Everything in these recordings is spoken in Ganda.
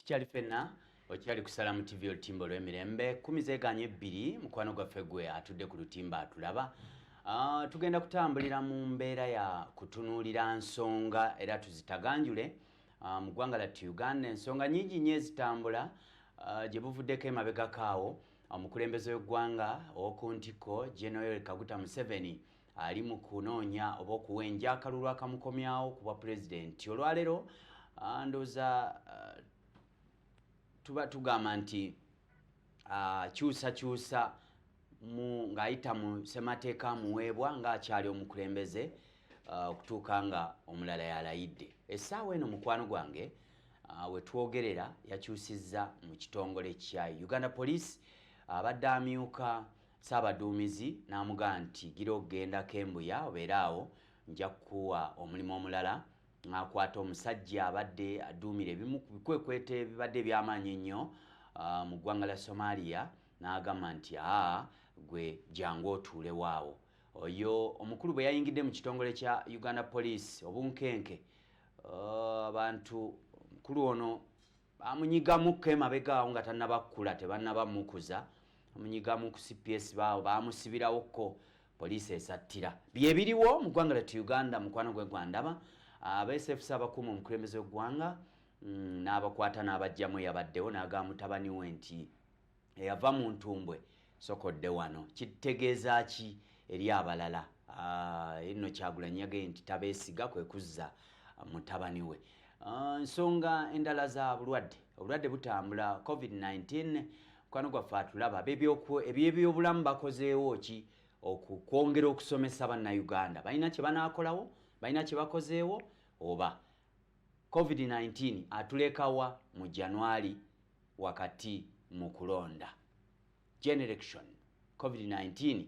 tukyali fenna okyali kusala mu tv olutimba olw'emirembe kumi zeganye ebbiri mukwano gwaffe gwe atudde ku lutimba atulaba ah, tugenda kutambulira mu mbeera ya kutunuulira nsonga era tuzitaganjule ah, mu ggwanga latti uganda ensonga nyingi nyo ezitambula ah, gye buvuddeko emabegakaawo omukulembeze w'eggwanga ow'oku ntikko genoel kaguta museveni ali mu kunoonya oba okuwenja akalulu akamukomyawo ku bwa pulezidenti olwaleero ah, ndooza ah, tuba tugamba nti ah, kyusakyusa ng'ayita mu ssemateeka amuweebwa ng'akyali omukulembeze okutuuka nga omulala yalayidde essaawa eno mukwano gwange wetwogerera yakyusizza mu kitongole kya uganda police abadde amyuka Ssaabaduumizi n'amugamba nti gira okugenda Kembuya obeere awo nja kukuwa omulimu omulala ng'akwata omusajja abadde aduumira ebimu ku bikwekweto ebibadde eby'amaanyi ennyo ah, mu ggwanga lya Somalia n'agamba nti aa gwe jangu otuulewo awo oyo omukulu bwe yayingidde mu kitongole kya Uganda Police obunkenke ah, abantu omukulu ono bamunyigamukko emabega awo nga tanabakkula tebanaba mukuza bamunyigamu ku cps baawo bamusibirawokko poliisi esattira byebiriwo mu ggwanga letu uganda mukwano gwe gwandaba abesefs abakuuma omukulembeze w'eggwanga mm, n'abakwata n'abajjamu eyabaddewo n'aga mutabani we nti eyava mu ntumbwe sokodde wano kitegeeza ki eri abalala ah, eno kyagulanyi yagee nti tabeesiga kwe kuzza ah, mutabani we ah, nsonga endala za bulwadde obulwadde butambula covid-19 mukwano gwaffe atulaba ebyebyobulamu bakozeewo ki okwongera okusomesa bannayuganda balina kye banaakolawo balina kye bakozeewo oba covid-19 atulekawa mu januari wakati mu kulonda generation covid-19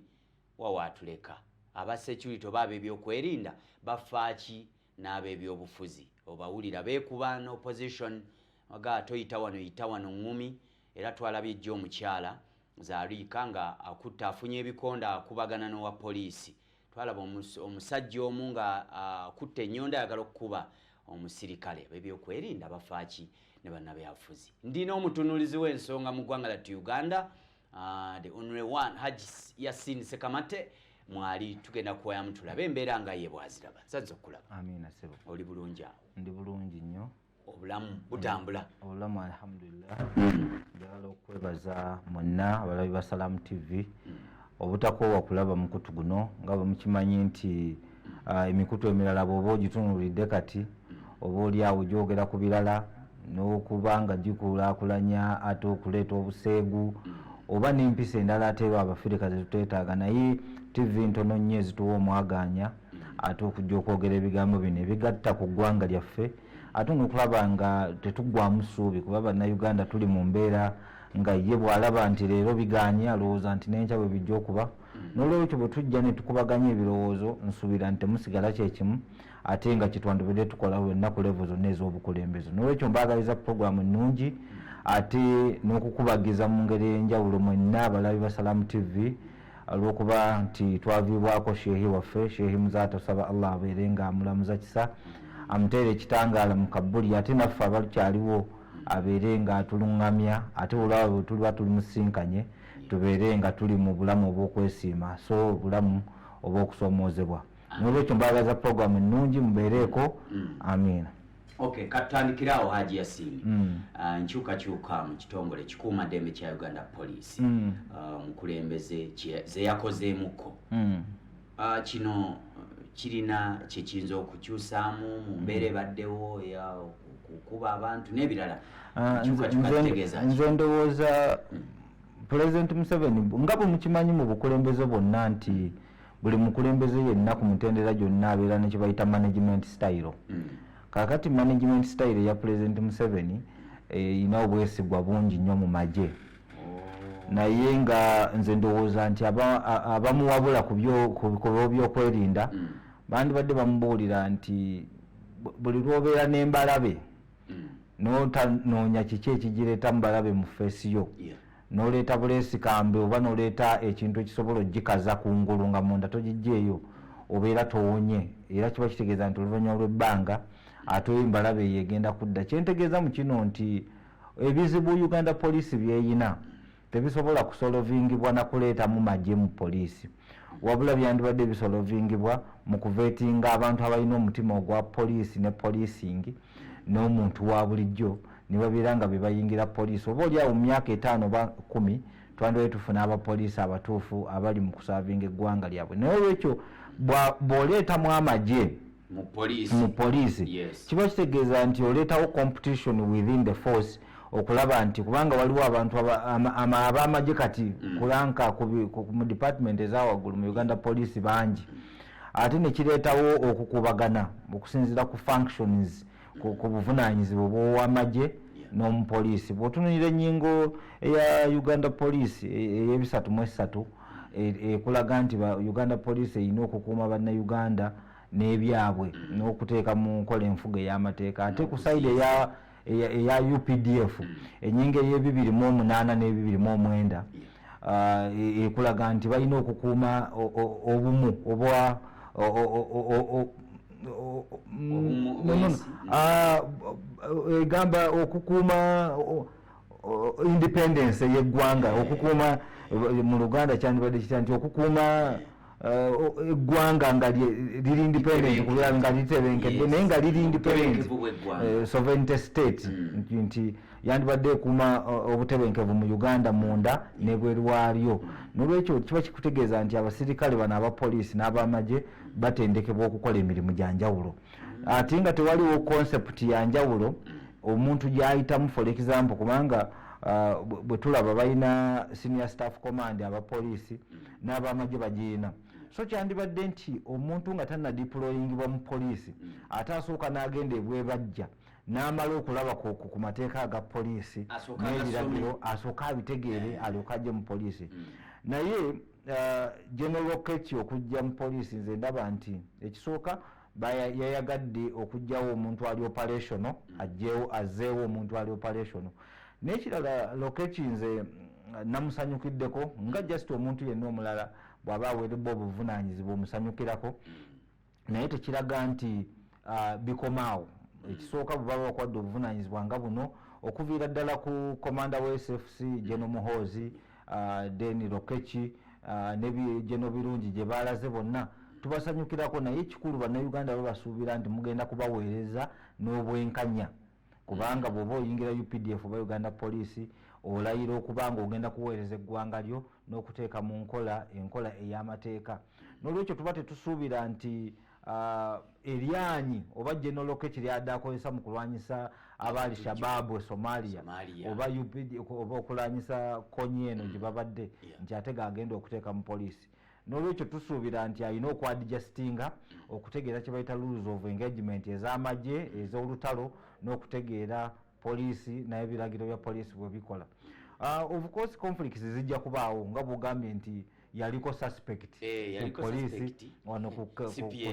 wawaatuleka aba security oba ab'ebyokwerinda bafaaki n'ab'ebyobufuzi obawulira beekuba n opposition aga toyita wano yita wano ŋŋumi era twalabye ejjo omukyala zariika nga akutta afunye ebikonda akubagana n'owa poliisi twalaba omusajja omu nga akutte ah, enyondo ayagala okukuba omusirikale abebyokwerinda bafaaki ne bannabyabufuzi ndina omutunulizi w'ensonga mu ggwanga latu uganda ah, the only one haj yasin sekamate mwali tugenda kuwayamu tulabe embeera nga ye bwaziraba nsanze okukulaba oli bulungi awo ndi bulungi nnyo obulamu butambula mm. obulamu alhamdulillah mm. njagala okwebaza mwenna abalabi ba salamu tv mm. obutakoowa kulaba mukutu guno nga bwemukimanyi nti ah, emikutu emirala bwoba ogitunulidde kati oba oliawo gyogera ku birala n'okuba nga gikulakulanya ate okuleeta obuseegu oba n'empisa endala ateeba abafirika zetuteetaaga naye tv ntono nnyo ezituwa omwagaanya ate okujja okwogera ebigambo bino ebigatta ku ggwanga lyaffe ate nokulaba nga tetuggwamu ssuubi kuba bannayuganda tuli mu mbeera nga ye bwalaba nti leero biganye alowooza nti nenkya bwe bijja okuba mm. nolwekyo bwe tujja ne tukubaganya ebirowoozo nsuubira nti temusigala kyekimu ate nga kyetwandibadde tukola wenna ku levo zonna ez'obukulembeze nolwekyo mbaagaliza puroguramu ennungi ate n'okukubagiza mu ngeri ey'enjawulo mwenna abalabi basalamu tv olwokuba nti twaviibwako sheehi waffe sheehi muzaata osaba allah abeere nga amulamuza kisa amuteere ekitangaala mu kabbuli ate naffe abakyaliwo abeere nga atulungamya ate olwaba bwetuliba tulimusinkanye tubeere nga tuli mu bulamu obwokwesiima so obulamu obwokusoomoozebwa nolwekyo mbagaza program ennungi mubeereeko mm. amiina okay katandikira awo haji yasini mm. uh, nkyukakyuka mu kitongole kikuuma ddembe kya uganda police mm. uh, mukulembeze zeyakozeemuko mm. uh, kino kirina kyekiyinza okukyusaamu mu mbeera mm. ebaddewo ya okukuba abantu n'ebirala uh, nze ndowooza mm. pulezidenti museveni nga bwe mukimanyi mu bukulembeze bwonna nti mm. buli mukulembeze yenna ku mutendera gyonna abeera ne kyebayita management style mm. kakati management style eya pulezidenti museveni erina eh, obwesigwa bungi nnyo mu magye naye nga nze ndowooza nti abamuwabula kubikolwa byokwerinda mm. bandibadde bamubuulira nti buli lwobeera nembalabe mm. notanoonya kiki ekigireeta mubalabe mu feesi yo noleeta buleesikambe oba noleeta ekintu ekisobola ogikaza ku ngulu nga munda togijjeeyo obeera towonye era kiba kitegeeza nti oluvanyuma lwebbanga ate oyo embalabe eyo egenda kudda kyentegeeza mu kino nti ebizibu uganda poliisi byeyina tebisobola kusolovingibwa nakuleetamu magye mu poliisi wabula byandibadde bisolovingibwa mu kuvetinga abantu abalina omutima ogwa poliisi ne poliisingi n'omuntu wa bulijjo ne babeera nga bebayingira poliisi oba oli awo mu myaka etaano oba kumi twandibadde tufuna abapoliisi abatuufu abali mu kusaavinga eggwanga lyabwe naye olwekyo bwoleetamu amagye mu police mu police yes. kiba kitegeeza nti oleetawo competition within the force okulaba nti kubanga waliwo abantu abamagye kati mm. kulanka mu department ezawaggulu mu uganda police bangi ate nekireetawo okukubagana okusinziira ku functions ku buvunaanyizibwa bwowamagye n'omupoliisi bwotunulira enyingo eya uganda poliisi e, eyebisatu mu esatu e, ekulaga nti uganda poliisi erina okukuuma bannayuganda n'ebyabwe n'okuteeka mu nkola enfuga ey'amateeka ate ku saidi eya eya updf enyinga eyebibiri mu omunaana n'ebibiri mu omwenda uh, ekulaga e, e nti balina okukuuma obumu obwa egamba okukuuma independence yeggwanga okukuuma mu luganda kyandibadde kitya nti okukuuma eggwanga nga liri independent kubeera nga litebenkedde naye nga liri independent eh, sovereignty state mm. nti yandibadde ekuuma eh, obutebenkevu mu uganda munda nebweru waalyo mm. nolwekyo kiba kikutegeeza nti abasirikale bano abapoliisi n'abamagye batendekebwa okukola emirimu gya njawulo mm. ate nga tewaliwo concept ya njawulo omuntu gyayitamu for example kubanga uh, bwetulaba balina senior staff command abapoliisi n'abamagye bagirina so kyandibadde nti omuntu nga tanadiployingibwa mu poliisi mm. ate asooka n'agenda ebwebajja n'amala okulaba ku mateeka aga poliisi n'ebiragiro asooka abitegeere eh. alyoka ajje mu poliisi mm. naye uh, general keti okujja mu poliisi nze ndaba nti ekisooka yayagadde okugyawo omuntu ali operational mm. ajjewo azeewo omuntu ali operational nekirala lokeki nze mm, namusanyukiddeko nga just omuntu yenna omulala bwaba awerebwa obuvunanyizibwa omusanyukirako mm. naye tekiraga nti uh, bikomaawo ekisooka bwebaba bakwadde obuvunanyizibwa nga buno okuviira ddala ku komanda wa sfc jeno muhoozi uh, then lokeki uh, ne geno birungi gye baalaze bonna tubasanyukirako naye ekikulu bannayuganda babasuubira nti mugenda kubaweereza n'obwenkanya kubanga mm. bwoba oyingira updf oba uganda poliisi olayira okuba nga ogenda kuweereza eggwanga lyo n'okuteeka mu nkola enkola ey'amateeka n'olwekyo tuba tetusuubira nti Uh, eryanyi oba general keki lyada akozesa mu kulwanyisa aba al shababu e somalia oba upd oba okulwanyisa konyi eno mm. gye babadde nti ate gagenda okuteeka mu poliisi nolwekyo tusuubira nti alina okwadijasitinga mm. okutegeera kye bayita rules of engagement ez'amagye mm. ez'olutalo n'okutegeera poliisi naye ebiragiro bya poliisi bwe bikola ah, of course conflicts zijja kubaawo nga bugambye nti yaliko suspect eh, poliisi wano ku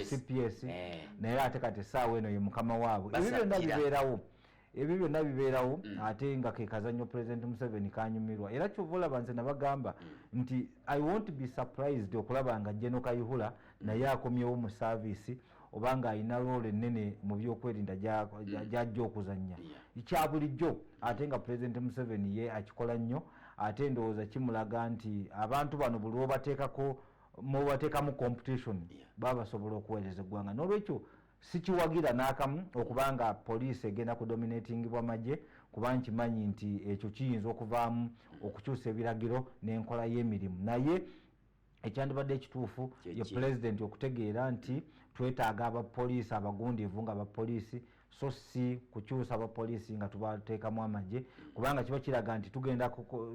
cps eh. naye ate kati essaawa eno ye mukama waabwe ebyo byonna bibeerawo ebyo byonna bibeerawo mm. ate nga kekazanyo president museveni kanyumirwa era kyova olaba nze nabagamba mm. nti i wont be surprised okulaba nga jeno kayihula mm. naye akomyewo mu saavisi oba ng'alina loola ennene mu byokwerinda mm. gy'ajja okuzannya kya bulijjo ate nga pulezidenti museveni ye akikola nnyo ate endowooza kimulaga nti abantu bano buli obateekako mubateekamu competition baba basobola okuweereza eggwanga n'olwekyo sikiwagira n'akamu okuba nga poliisi egenda kudominatingibwa magye kuba nkimanyi nti ekyo kiyinza okuvaamu okukyusa ebiragiro n'enkola y'emirimu naye ekyandibadde ekituufu ye pulezidenti okutegeera nti twetaaga abapoliisi abagundiivu nga abapoliisi so si kukyusa abapoliisi nga tubateekamu amagye kubanga kiba kiraga nti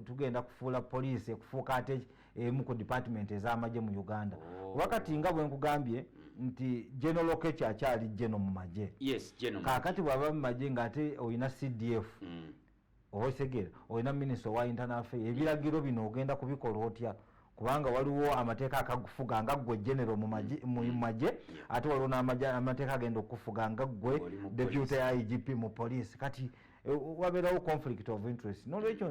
tugenda kufuula poliisi ekufuuka ate emu ku dipatimenti ez'amagye mu uganda oh. oba kati nga bwe nkugambye nti genero kechi akyali geno mu magye kaakati bw'aba mu magye ng'ate olina cdf mm. owetegera olina minisita owa intanafea ebiragiro bino ogenda kubikola otya kubanga waliwo amateeka akagufuga nga ggwe genero mu mm. magye ate waliwo namateeka agenda okufuga nga ggwe deputy ya igp mu poliisi kati e, wabeerawo conflict of interest nolwekyo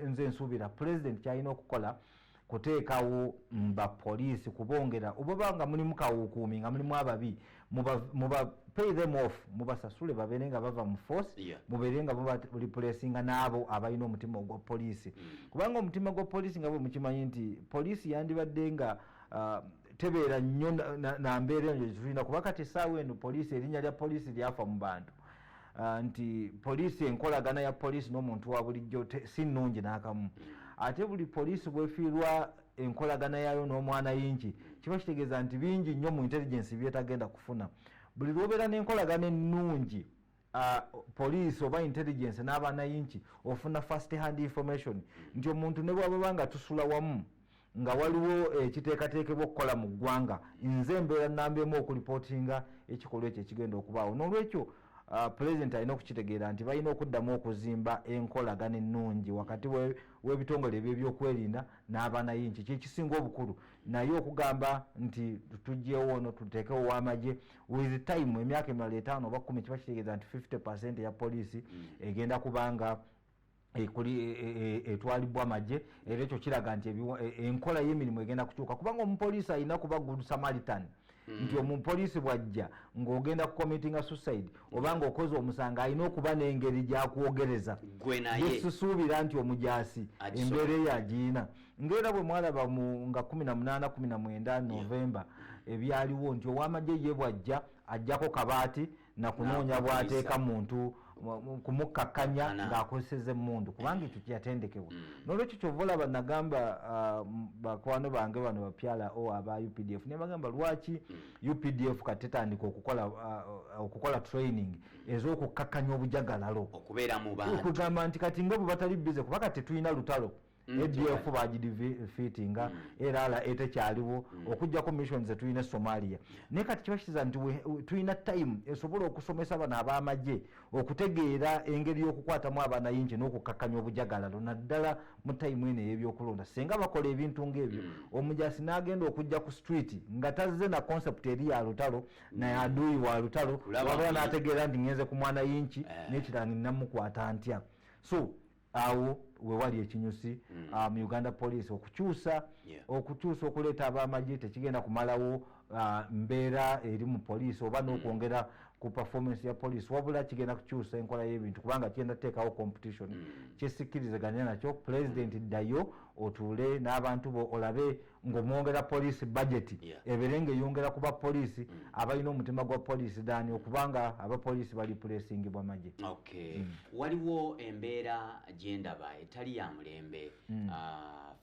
nze nsuubira president kyalina okukola kuteekawo mba poliisi kubongera obaba nga mulimu kawukuumi nga mulimu ababi muba pay them off mubasasule babeere nga bava mu force yeah. mubeere nga mubareplacinga n'abo abalina omutima ogwa poliisi mm. kubanga omutima gwa poliisi nga bwe mukimanyi nti poliisi yandibadde nga uh, tebeera nnyo na mbeera eyo tulina kuba kati esaawa eno poliisi erinnya lya poliisi lyafa mu bantu Ah, nti poliisi enkolagana ya poliisi n'omuntu wa bulijjo si nnungi n'akamu ate buli poliisi bwefiirwa enkolagana yaayo n'omwana yingi kiba kitegeeza nti bingi nnyo mu intelligensi byetagenda kufuna buli lwobeera n'enkolagana ennungi ah, poliisi oba intelligensi n'abaana yingi ofuna first hand information nti omuntu ne bwababa nga tusula wamu nga waliwo ekiteekateekebwa eh, okukola mu ggwanga nze embeera namba emu okulipootinga ekikolwa ekyo ekigenda okubaawo n'olwekyo ah, pulezidenti alina okukitegeera nti balina okuddamu okuzimba enkolagana ennungi wakati w'ebitongole ebyo ebyokwerinda n'abanayinki kyekisinga obukulu naye okugamba nti tugyewo ono tuteekewo wamagye with time emyaka emirala etaano oba kumi kiba kitegeeza nti 50 percent ya poliisi mm. egenda kubanga E, e, e, etwalibwa magye era ekyo kiraga nti enkola y'emirimu egenda kukyuka kubanga omupoliisi alina kuba good samaritan hmm. nti omupoliisi bwajja ng'ogenda ku committinga suicide oba ng'okoze omusango alina okuba n'engeri gyakwogereza yesisuubira nti omujaasi embeera eyo agiina ngaera bwe mwalaba nga 18 19 novemba ebyaliwo nti ow'amagye ye bwajja ajjako kabaati nakunoonya bwateeka muntu kumukkakkanya ng'akozeseza emmundu kubanga ekyo kyeyatendekebwa mm. nolwekyo kyova olaba nagamba uh, bakwano bange bano bapyala o oh, aba updf naye bagamba lwaki mm. updf kati tetandika okukola uh, training ez'okukkakkanya obujagalalo okugamba nti kati nga bwe batali bize kuba kati tetulina lutalo Mm, adf bagidv fiti nga mm. erala etekyaliwo mm. okujjako mission zetulina esomalia naye kati kiba kitiza nti tulina time esobola okusomesa bano abamagye okutegeera engeri y'okukwatamu abanayingi n'okukakkanya obujagalalo naddala mu time eno ey'ebyokulonda singa bakola ebintu ng'ebyo omujasi n'agenda okujja ku street nga tazze na concept eri ya lutalo naye aduuyi wa lutalo wabula n'ategeera nti ngenze ku mwanayingi eh. nekiranga nnamukwata ntya so awo wewali ekinyusi mm. uh, mu uganda police okukyusa yeah. okukyusa okuleeta abamagye tekigenda kumalawo uh, mbeera eri mu poliisi oba mm. n'okwongera mm. ku performance ya poliisi wabula kigenda kukyusa enkola y'ebintu kubanga kigenda kuteekawo competition mm. kyesikirizeganya nakyo pulezidenti mm. ddayo otuule n'abantu bo olabe ngomwongera poliisi bajeti ebeere ngaeyongera kuba poliisi mm. abalina omutima gwa poliisi dani mm. okubanga abapoliisi bali pulesingibwa maje mm. waliwo embeera gyendaba etali ya mulembe ah,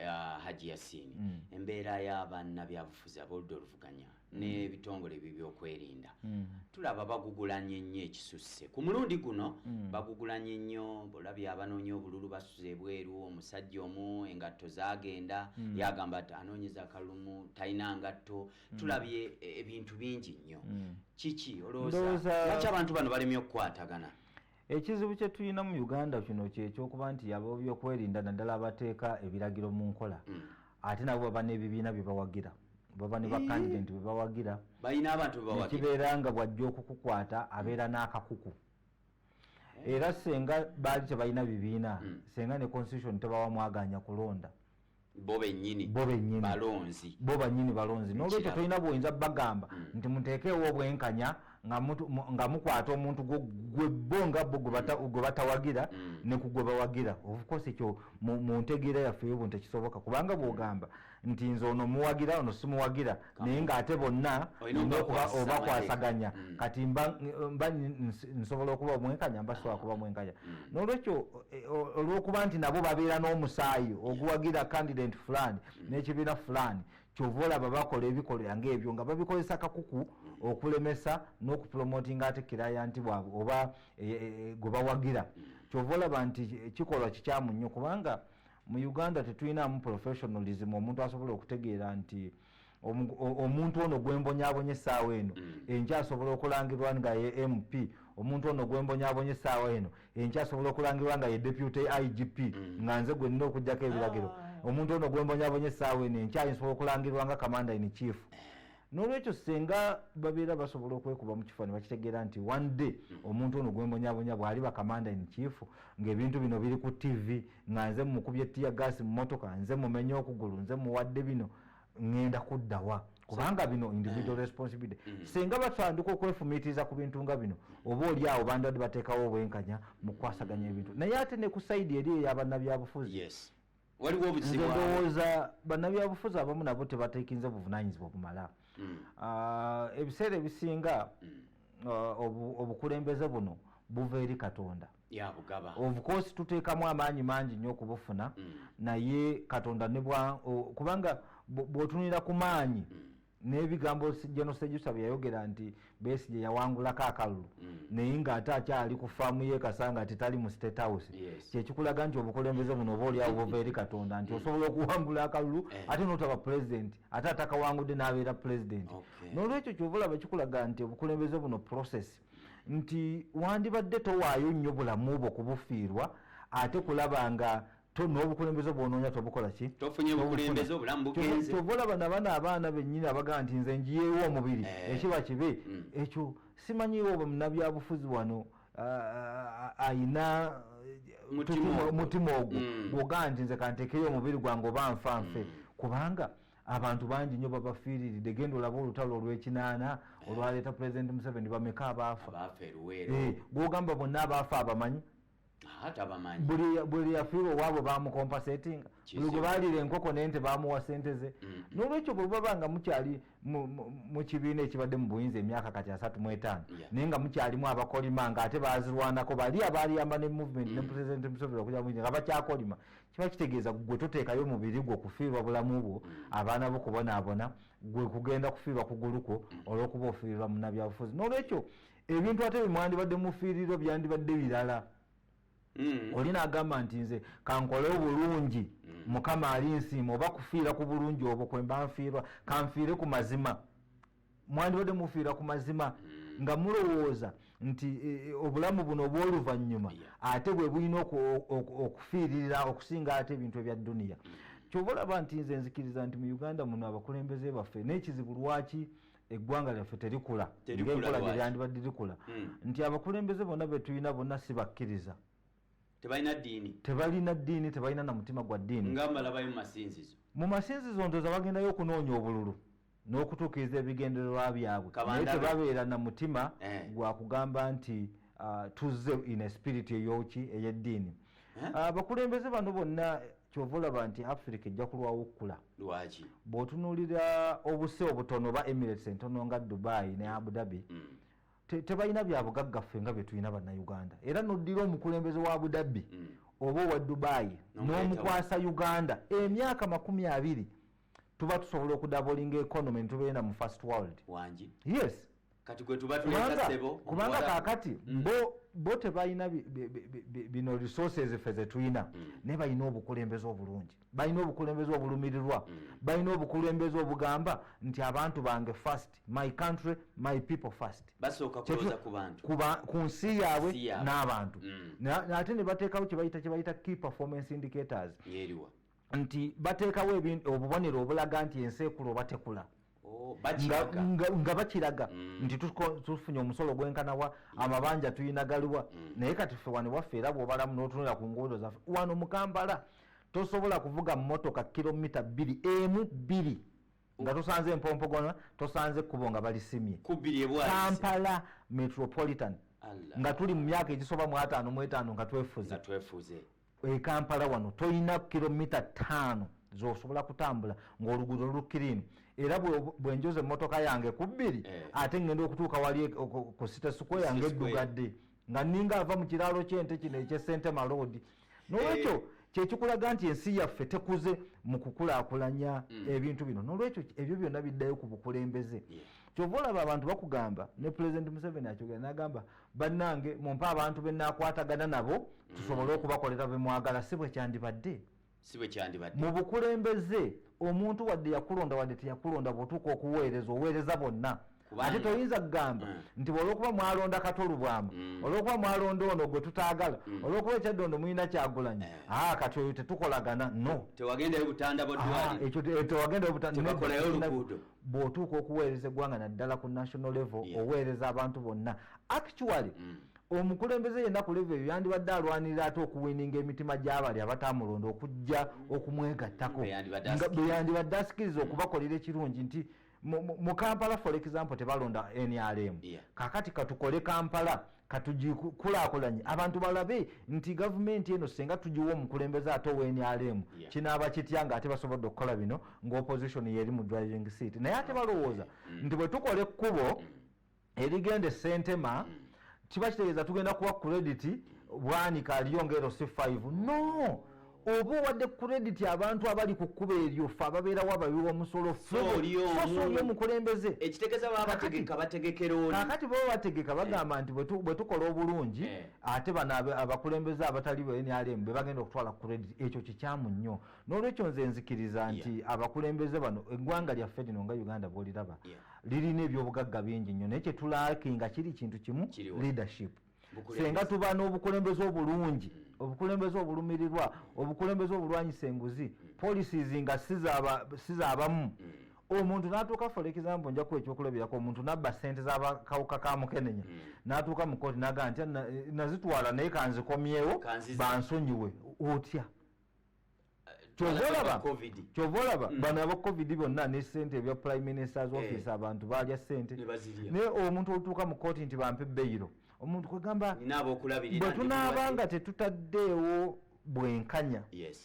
ah, haji yasini embeera y'abanna byabufuzi aboludda oluvuganya n'ebitongole byebyokwerinda mm. tulaba bagugulanye nnyo ekisusse ku mulundi guno mm. bagugulanye nnyo olabye abanoonya obululu basuza ebweru omusajja omu engatto zagenda mm. yagamba ti anoonyeza kalumu talina ngatto tulabye e, ebintu bingi nnyo kiki olowooza lwaki abantu bano balemye okukwatagana Ekizibu kye tulina mu Uganda kino kyekyokuba nti ababyokwerinda naddala abateeka ebiragiro mu nkola mm. ate nabo baba n'ebibiina bye bawagira baba ne bakandidenti bwe bawagira nekibeera nga bwajja okukukwata abeera n'akakuku era senga baali tebalina bibiina mm. senga ne constitution tebawa mwaganya kulonda bo benyini bo benyini balonzi bo banyini balonzi no lwekyo tolina bwoyinza bagamba mm. nti muteekeewo obwenkanya nga mutu nga mukwata omuntu gwo gwe bo nga bo gwe bata mm. gwe batawagira mm. ne kugwe bawagira of course ekyo mu, mu ntegeera yaffe yobu ntekisoboka kubanga mm. bwogamba nti nze ono muwagira ono simuwagira naye ng'ate bonna nina okuba obakwasaganya mm. kati mba nsobola okuba omwenkanya mba sobola kuba mwenkanya mm. n'olwekyo e, olw'okuba nti nabo babeera n'omusaayi oguwagira candidate fulani mm. n'ekibiina fulani kyova olaba bakola ebikolera ngaebyo nga babikozesa kakuku okulemesa n'okupromotinga ate kiraya nti bwabwe oba e, e, gwe bawagira kyova olaba nti kikolwa kikyamu nnyo kubanga mu uganda tetulinamu professionalism omuntu asobola okutegeera nti omuntu ono gwembonyabonye esaawa eno mm. enkyasobola okulangirwa nga ye mp omuntu ono gwembonyabonye esaawa eno enkyasobola okulangirwa nga ye deputy igp mm. nga nze gwenina okujjako ebiragiro ah. omuntu ono gwembonyabonye esaawa eno enkyayinsobola okulangirwa nga commander in chief nolwekyo senga babeera basobola okwekuba mu kifo nebakitegeera nti one day mm. omuntu ono gwembonyabonya bwali bakamanda in chief ngaebintu bino biri ku tv nga nze mukubye tiya gaasi mu motoka nze mumenye okugulu nze muwadde bino ŋŋenda kuddawa kubanga bino individual mm. responsibility mm. singa batandika okwefumiitiriza ku bintu nga bino oba oli awo bandibadde bateekawo obwenkanya mu kukwasaganya mm. ebintu naye ate ne ku saidi eri eyabannabyabufuzi ndowooza bannabyabufuzi abamu nabo tebatekinze obuvunanyizibwa obumala ah, ebiseera ebisinga ah, obukulembeze buno buva eri katonda ofcourse tuteekamu amaanyi mangi nnyo okubufuna mm. naye katonda nebwa kubanga bwotunira ku maanyi mm. n'ebigambo genosejusa bye yayogera nti besigye yawangulako akalulu mm. naye ng'ate akyali ku faamu yekasa nga tetali mu state house kyekikulaga nti obukulembeze buno oba oliawo bova eri katonda nti osobola okuwangula akalulu eh. ate notaba pulezidenti ate atakawangudde n'abeera pulezidenti n'olwekyo kyova olaba kikulaga nti obukulembeze buno process nti wandibadde towaayo nnyo bulamu bwo kubufiirwa ate kulaba nga to n'obukulembeze bwonoonya tobukola ki tovolaba nabano abaana bennyini abagamba nti nze njiyeewo omubiri eh. ekiba kibe hmm. ekyo simanyiwo munabyabufuzi wano ayina mutima ogwo hmm. gwogaa nti nze kantekeyo omubiri gwange oba nfa nfe hmm. kubanga abantu bangi nyo babafiiriride genda olaba olutalo olwekinaana olwaleeta pulezidenti museveni bameka abaafa eh, gwogamba bonna abaafa abamanyi buli yafiirwa owaabwe bamukompa setinga buli gwe baliira enkoko nente bamuwa sente ze mm. nolwekyo bwebaba nga mukyali mu kibiina ekibadde mu buyinza emyaka kati asatu mu etaano naye nga mukyalimu abakolima nga ate bazirwanako bali abaliyamba ne movement ne mm. president museveni okuja muyinza nga bakyakolima kiba kitegeeza gwe toteekayo mubiri gwo kufiirwa bulamu bwo mm. abaana bo kubonaabona gwe kugenda kufiirwa kugulukwo mm. olwokuba ofiirwa munabyabufuzi nolwekyo ebintu ate bimwandibadde mufiiriro byandibadde birala mm. oli nagamba nti nze kankole obulungi mukama ali nsiima oba kufiira ku bulungi obwo kwemba nfiirwa kanfiire ku mazima mwandibadde mufiira ku mazima hmm. nga mulowooza nti e, e, obulamu buno obw'oluvannyuma ate bwe bulina okufiiririra okusinga ate ebintu ebya duniya hmm. kyoba olaba nti nze nzikiriza nti mu uganda muno abakulembeze baffe n'ekizibu lwaki eggwanga lyaffe terikula ngaenkola gyeryandibadde likula hmm. nti abakulembeze bonna betulina bonna si bakkiriza tebalina ddiini tebalina ddiini tebalina na mutima gwa ddiini nga malabayo mu masinzizo mu masinzizo ndoza bagendayo okunoonya obululu n'okutuukiriza ebigendererwa byabwe naye tebabeera na mutima eh. gwa kugamba nti uh, tuzze in a spirit eyoki ey'eddiini eh? uh, abakulembeze bano bonna kyova olaba nti afirika ejja kulwawo okukula lwaki bw'otunuulira obuse obutono oba emirates entono nga dubai ne abu dhabi mm. tebalina byabugagga ffe nga byetulina bannayuganda era noddira omukulembeze wa abudabbi mm. oba owa dubaayi n'omukwasa uganda emyaka makumi abiri tuba tusobola okudabolinga economy nitubeena mu first world wangi yes kati gwetubatulekasebo kubanga kakati mm. bo bo tebalina bino resources ffe zetulina mm. naye balina obukulembeze obulungi balina obukulembeze obulumirirwa mm. balina obukulembeze obugamba nti abantu bange first my country my people first basooka kuloza ku bantu kuba ku nsi yaabwe n'abantu mm. ate ne bateekawo kyebayita kyebayita key performance indicators yeriwa nti bateekawo obubonero obulaga nti ensi ekula oba tekula oh, nga bakiraga mm. nti tufunye omusolo gwenkanawa mm. amabanja tulina galiwa mm. naye kati ffe wano waffe era bwobalamu notunula ku nguudo zaffe wano mukambala tosobola kuvuga mumotoka kilomita bbiri emu bbiri nga tosanze empompogona tosanze ekkubo nga balisimye kampala metropolitan nga tuli mu myaka egisoba mu ataano mu etaano nga twefuze ekampala wano tolina kilomita taano zosobola kutambula ngaoluguudo lulukirimu era bwenjoza emotoka yange ku bbiri eh. ate ngenda okutuuka wali e, ku site square nga eddugadde nga ninga ava mu kiraalo ky'ente kino ekyesente maloodi nolwekyo eh. kyekikulaga nti ensi yaffe tekuze mu kukulakulanya mm. ebintu bino nolwekyo ebyo byonna biddayo ku bukulembeze kyova olaba abantu bakugamba ne pulezidenti museveni akyogera nagamba bannange mumpe abantu benakwatagana nabo mm. tusobole okubakolera bemwagala si bwekyandibadde si bwe kyandibadde mu bukulembeze omuntu wadde yakulonda wadde teyakulonda bwotuuka okuweereza oweereza bonna ate toyinza kugamba mm. nti olwokuba mwalonda katolubwamu mm. olwokuba mwalonda ono gwe tutaagala mm. olwokuba ekyaddondo mulina kyagulanyi eh. a ah, kati oyo tetukolagana no bwotuuka okuweereza eggwanga naddala ku national level oweereza abantu bonna actually omukulembeze yenna ku leve eyo yandibadde alwanirira ate okuwininga emitima gy'abali abataamulonda okujja okumwegattako bwe yandibadde asikiriza mm. okubakolera ekirungi nti mu kampala for example tebalonda nrm kakati katukole kampala katugikulakulanye abantu balabe nti gavumenti eno senga tugiwa omukulembeze ate owa nrm kinaaba kitya nga ate basobodde okukola bino nga opposition yeri mu driving seat naye ate balowooza mm. nti bwe tukola ekkubo mm. erigenda esentema mm. kiba kitegeeza tugenda kuwa credit bwanika aliyo ngaero si 5 no oba owadde credit abantu abali ku kkuba eryo fe ababeerawo ababiwa omusolo feoli omukulembeze ekitegezabategeka bategekerakati baba bategeka eh. bagamba nti bwe tukola obulungi eh. ate bano abakulembeze abatali bnrm be bagenda okutwala credit ekyo kikyamu nnyo nolwekyo nze nzikiriza nti yeah. abakulembeze bano eggwanga lyaffe lino nga uganda bwoliraba yeah. lirina ebyobugagga bingi nnyo naye kyetulaki nga kiri kintu kimu leadership senga tuba n'obukulembeze obulungi mm. obukulembeze obulumirirwa obukulembeze obulwanyisa enguzi mm. policies nga sizabamu mm. omuntu natuuka for example njaku ekyokulabirako omuntu nabba sente zakawuka ka mukenenya hmm. natuuka mukooti naga nti nazitwala naye kanzikomyewo bansonyiwe otya kyova olaba mm. bano aba covid bonna ne sente ebya prime ministers eh. office abantu balya sente naye omuntu olutuuka mu kooti nti bampe beyiro omuntu kwegamba bwe tunaaba nga tetutaddeewo bwenkanya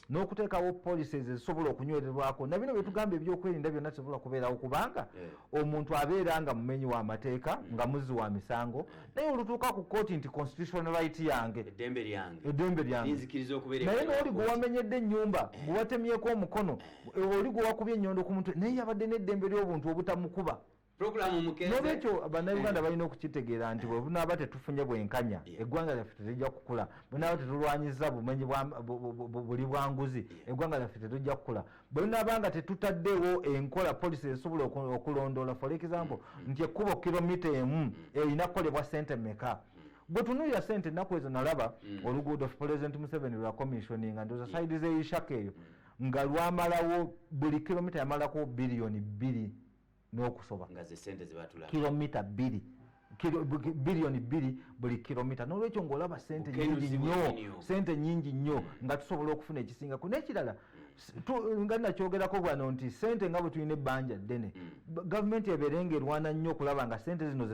n'okuteekawo policies ezisobola okunywererwako nabino byetugamba ebyokwerinda byonna tisobola kubeerawo kubanga eh. omuntu abeera nga mumenyi w'amateeka nga muzzi wa misango naye olutuuka ku kooti nti constitution right yange eddembe lyange eddembe lyange linzikiriza okubeera naye ebweru wa n'oli gwe kkooti. wamenyedde ennyumba gwe watemyeko omukono oli gwe wakubye ennyondo ku mutwe naye yabadde n'eddembe ly'obuntu obutamukuba pulogulaamu mukeeze n'olwekyo bannayuganda balina okukitegeera nti bwe bunaaba tetufunye bwenkanya Yeah. eggwanga lyaffe tetujja kukula bwenaaba tetulwanyiza bumenyi bwa- bu- bu- bu- buli bwa nguzi eggwanga lyaffe tetujja kukula bwe tunaaba nga tetutaddewo enkola polisi esobola okulondoola for example mm, mm. nti ekkubo kilomita emu mm. erina kukolebwa sente meka gwe tunuulira sente ennaku ezo nalaba oluguudo president museveni lwa commissioninga ndoza saidi zeishaka eyo nga lwamalawo buli kilomita yamalako biliyoni bbiri n'okusoba nga ze sente ze batula kilomita bbiri biliyoni bbiri buli kilomita n'olwekyo ng'olaba sente nyingi nnyo sente nyingi nnyo hmm. nga tusobola okufuna ekisingako n'ekirala nga nakyogerako bwano nti sente nga bwe tulina ebbanja ddene hmm. gavumenti ebeere nga erwana nnyo okulaba nga sente zino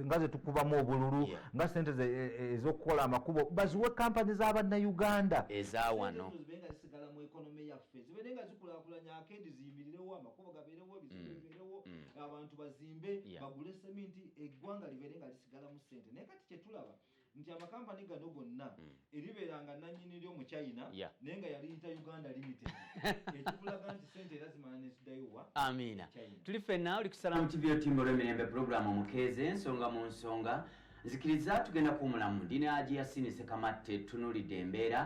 nga zetukubamu obululu nga sente e, e, ez'okukola amakubo baziwe kampani za bannayuganda ezawano amakubo gabeerewo ebizimbe mm. bibeerewo mm. abantu bazimbe bagule seminti eggwanga libeere nga lisigalamu ssente naye kati kyetulaba nti amakampani gano gonna mm. eribeera nga nanyini lyo mu china naye nga yaliyita uganda limited ekikulaga nti sente era zimala nezidayowa amiina tuli fenna oli kusalamu tv otimba olwemirembe pulogulaamu omukeeze ensonga mu nsonga nzikiriza tugenda kuwumulamu ndi ne aji yasini sekamatte tunulidde embeera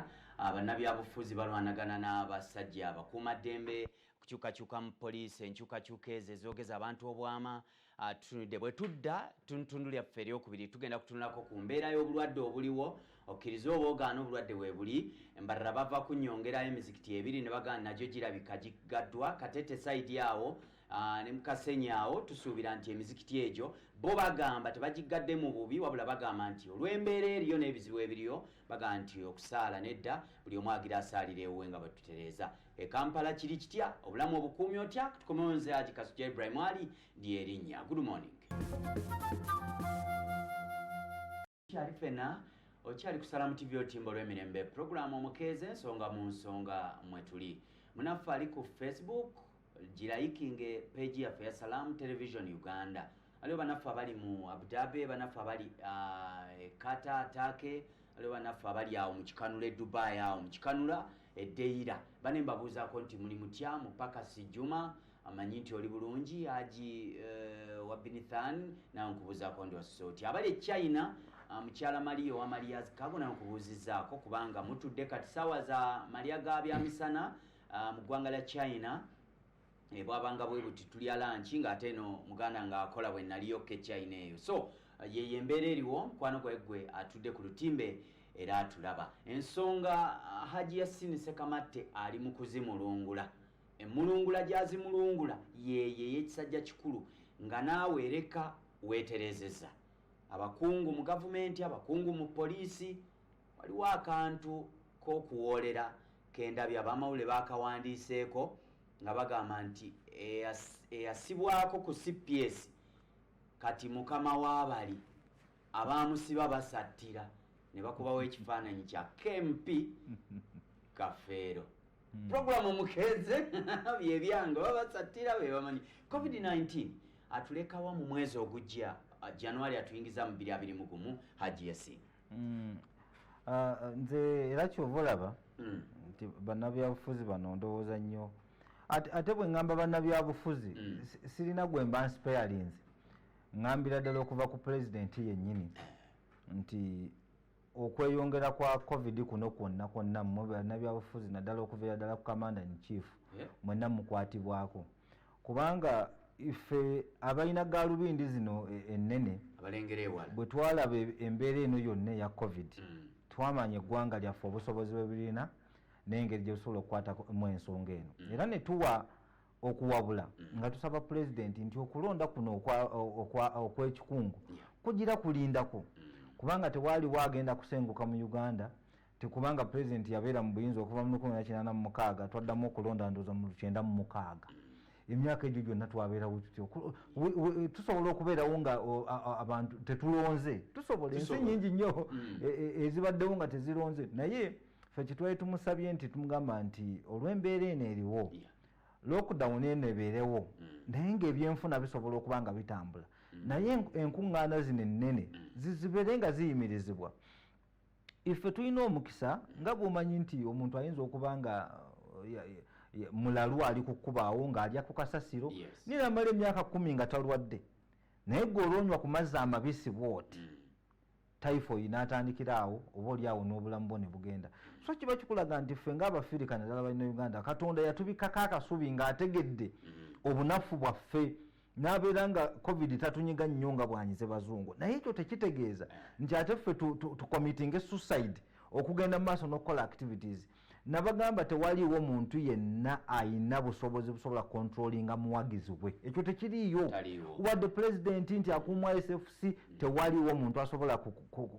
abannabyabufuzi balwanagana n'abasajja abakuuma ddembe kukyukakyuka mu poliisi enkyukakyuka ezo ezoogeza abantu obwama ah, tutunudde bwe tudda tuntundu lyaffe eryokubiri tugenda kutunulako ku mbeera y'obulwadde obuliwo okkiriza oba ogaana obulwadde weebuli embalala bava kunyongerayo emizikiti ebiri ne bagaana nagyo girabika gigaddwa katete saidi awo ah, ne mukasenyi awo tusuubira nti emizikiti egyo bo bagamba tebagiggadde mu bubi wabula bagamba nti olw'embeera eriyo n'ebizibu ebiriyo bagamba nti okusaala nedda buli omu agira asaalira ewuwe nga bwe tutereeza e kampala kiri kitya obulamu obukuumi otya tukomewo nze aji kasuja ibrahim ali lyerinnya good morning kyali fena okyali kusala mu tv otimba olw'emirembe puroguramu omukeeza ensonga mu nsonga mwe tuli munaffe ali ku facebook girayikinge peegi yaffe ya salamu television uganda aliwo banaffe abali mu abudabe banaffe abali uh, kata take waliwo banaffe abali awo mu kikanula e dubai awo mu kikanula edeira bane mbabuuzaako nti muli mutya mu pakasi juma amanyi nti oli bulungi aji uh, eh, wabinithan nawe nkubuuzaako ndi wasuse oti abali e china uh, mukyala maliya owa maliya zikago nawe nkubuuzizaako kubanga mutudde kati saawa za malya ga byamisana uh, mu ggwanga lya china ebwabanga bwe buti tulya lanki ng'ate eno muganda ng'akola bwe naliyo kechina eyo so yeyo embeera eriwo mukwano gwegwe atudde ku lutimbe era atulaba ensonga ah, haji yasini sekamatte ali mu kuzimulungula emulungula gyazimulungula yeyo eyekisajja kikulu nga naawe ereka weeterezeza abakungu mu gavumenti abakungu mu poliisi Waliwo akantu k'okuwoolera ke ndabye ab'amawulire baakawandiiseeko nga bagamba nti eyasibwako ku cps kati mukama w'abali abaamusiba basattira ne bakubawo ekifaananyi kya kmp kafeero hmm. puroguramu mukeeze byebyange oba basattira be bamanyi covid-19 atulekawa mu mwezi ogujja januari atuyingiza mu 2 2 mu gumu hajiyasiina mm. ah, ah, nze era kyova olaba mm. nti bannabyabufuzi bano ndowooza nnyo ate bwe ŋŋamba bannabyabufuzi mm. sirina gwe mba nsipeyalinze ŋŋambira ddala okuva ku pulezidenti yennyini nti okweyongera kwa covid kuno kwonna kwonna mwe bannabyabufuzi naddala okuviira ddala ku kamanda in chief mwenna mukwatibwako kubanga ife abalina galubindi zino e, ennene bwetwalaba e, embeera eno yonna eya covid mm. twamanya eggwanga lyaffe obusobozi bwebirina nengeri gyebusobola okukwatamu ensonga eno mm. era netuwa okuwabula mm. nga tusaba pulezidenti nti okulonda kuno okwekikungu kugira kulindako kubanga tewaliwo agenda kusenguka mu uganda tikubanga president yabeera mu buyinza okuva mu lukumi nakinana mumukaaga twaddamu okulonda ndooza mu lukyenda mu mukaaga emyaka egyo gyonna twabeerawo tutyo tusobola okubeerawo nga abantu tetulonze tusobola ensi nyingi nnyo mm. e, e, ezibaddewo nga tezironze naye fe kyetwali tumusabye nti tumugamba nti olw'embeera eno eriwo lockdown eno ebeerewo mm. naye ngaebyenfuna bisobola okuba nga bitambula mm. naye enkuŋŋaana zino ennene zibeere nga ziyimirizibwa ife tulina omukisa nga bwomanyi nti omuntu ayinza okuba nga mulalu ali kukubaawo ng'alya ku kasasiro naye namala emyaka kumi nga talwadde naye gwe olwonywa ku mazzi amabisi bwoti mm. typhoid natandikira awo oba oli awo n'obulamu bwo ne bugenda so kiba kikulaga nti ffe ngaabafirika naddala balina uganda katonda yatubikako akasubi ng'ategedde mm-hmm. obunafu bwaffe nabeera nga covid tatunyiga nnyo nga bwanyize bazungu naye ekyo tekitegeeza nti ate ffe tukomitinge suicide okugenda mumaaso nokukola activities nabagamba tewaliwo muntu yenna ayina busobozi busobola kontrolinga muwagizi we ekyo tekiriyo wadde pulezidenti nti akuumwa sfc mm. tewaliwo muntu asobola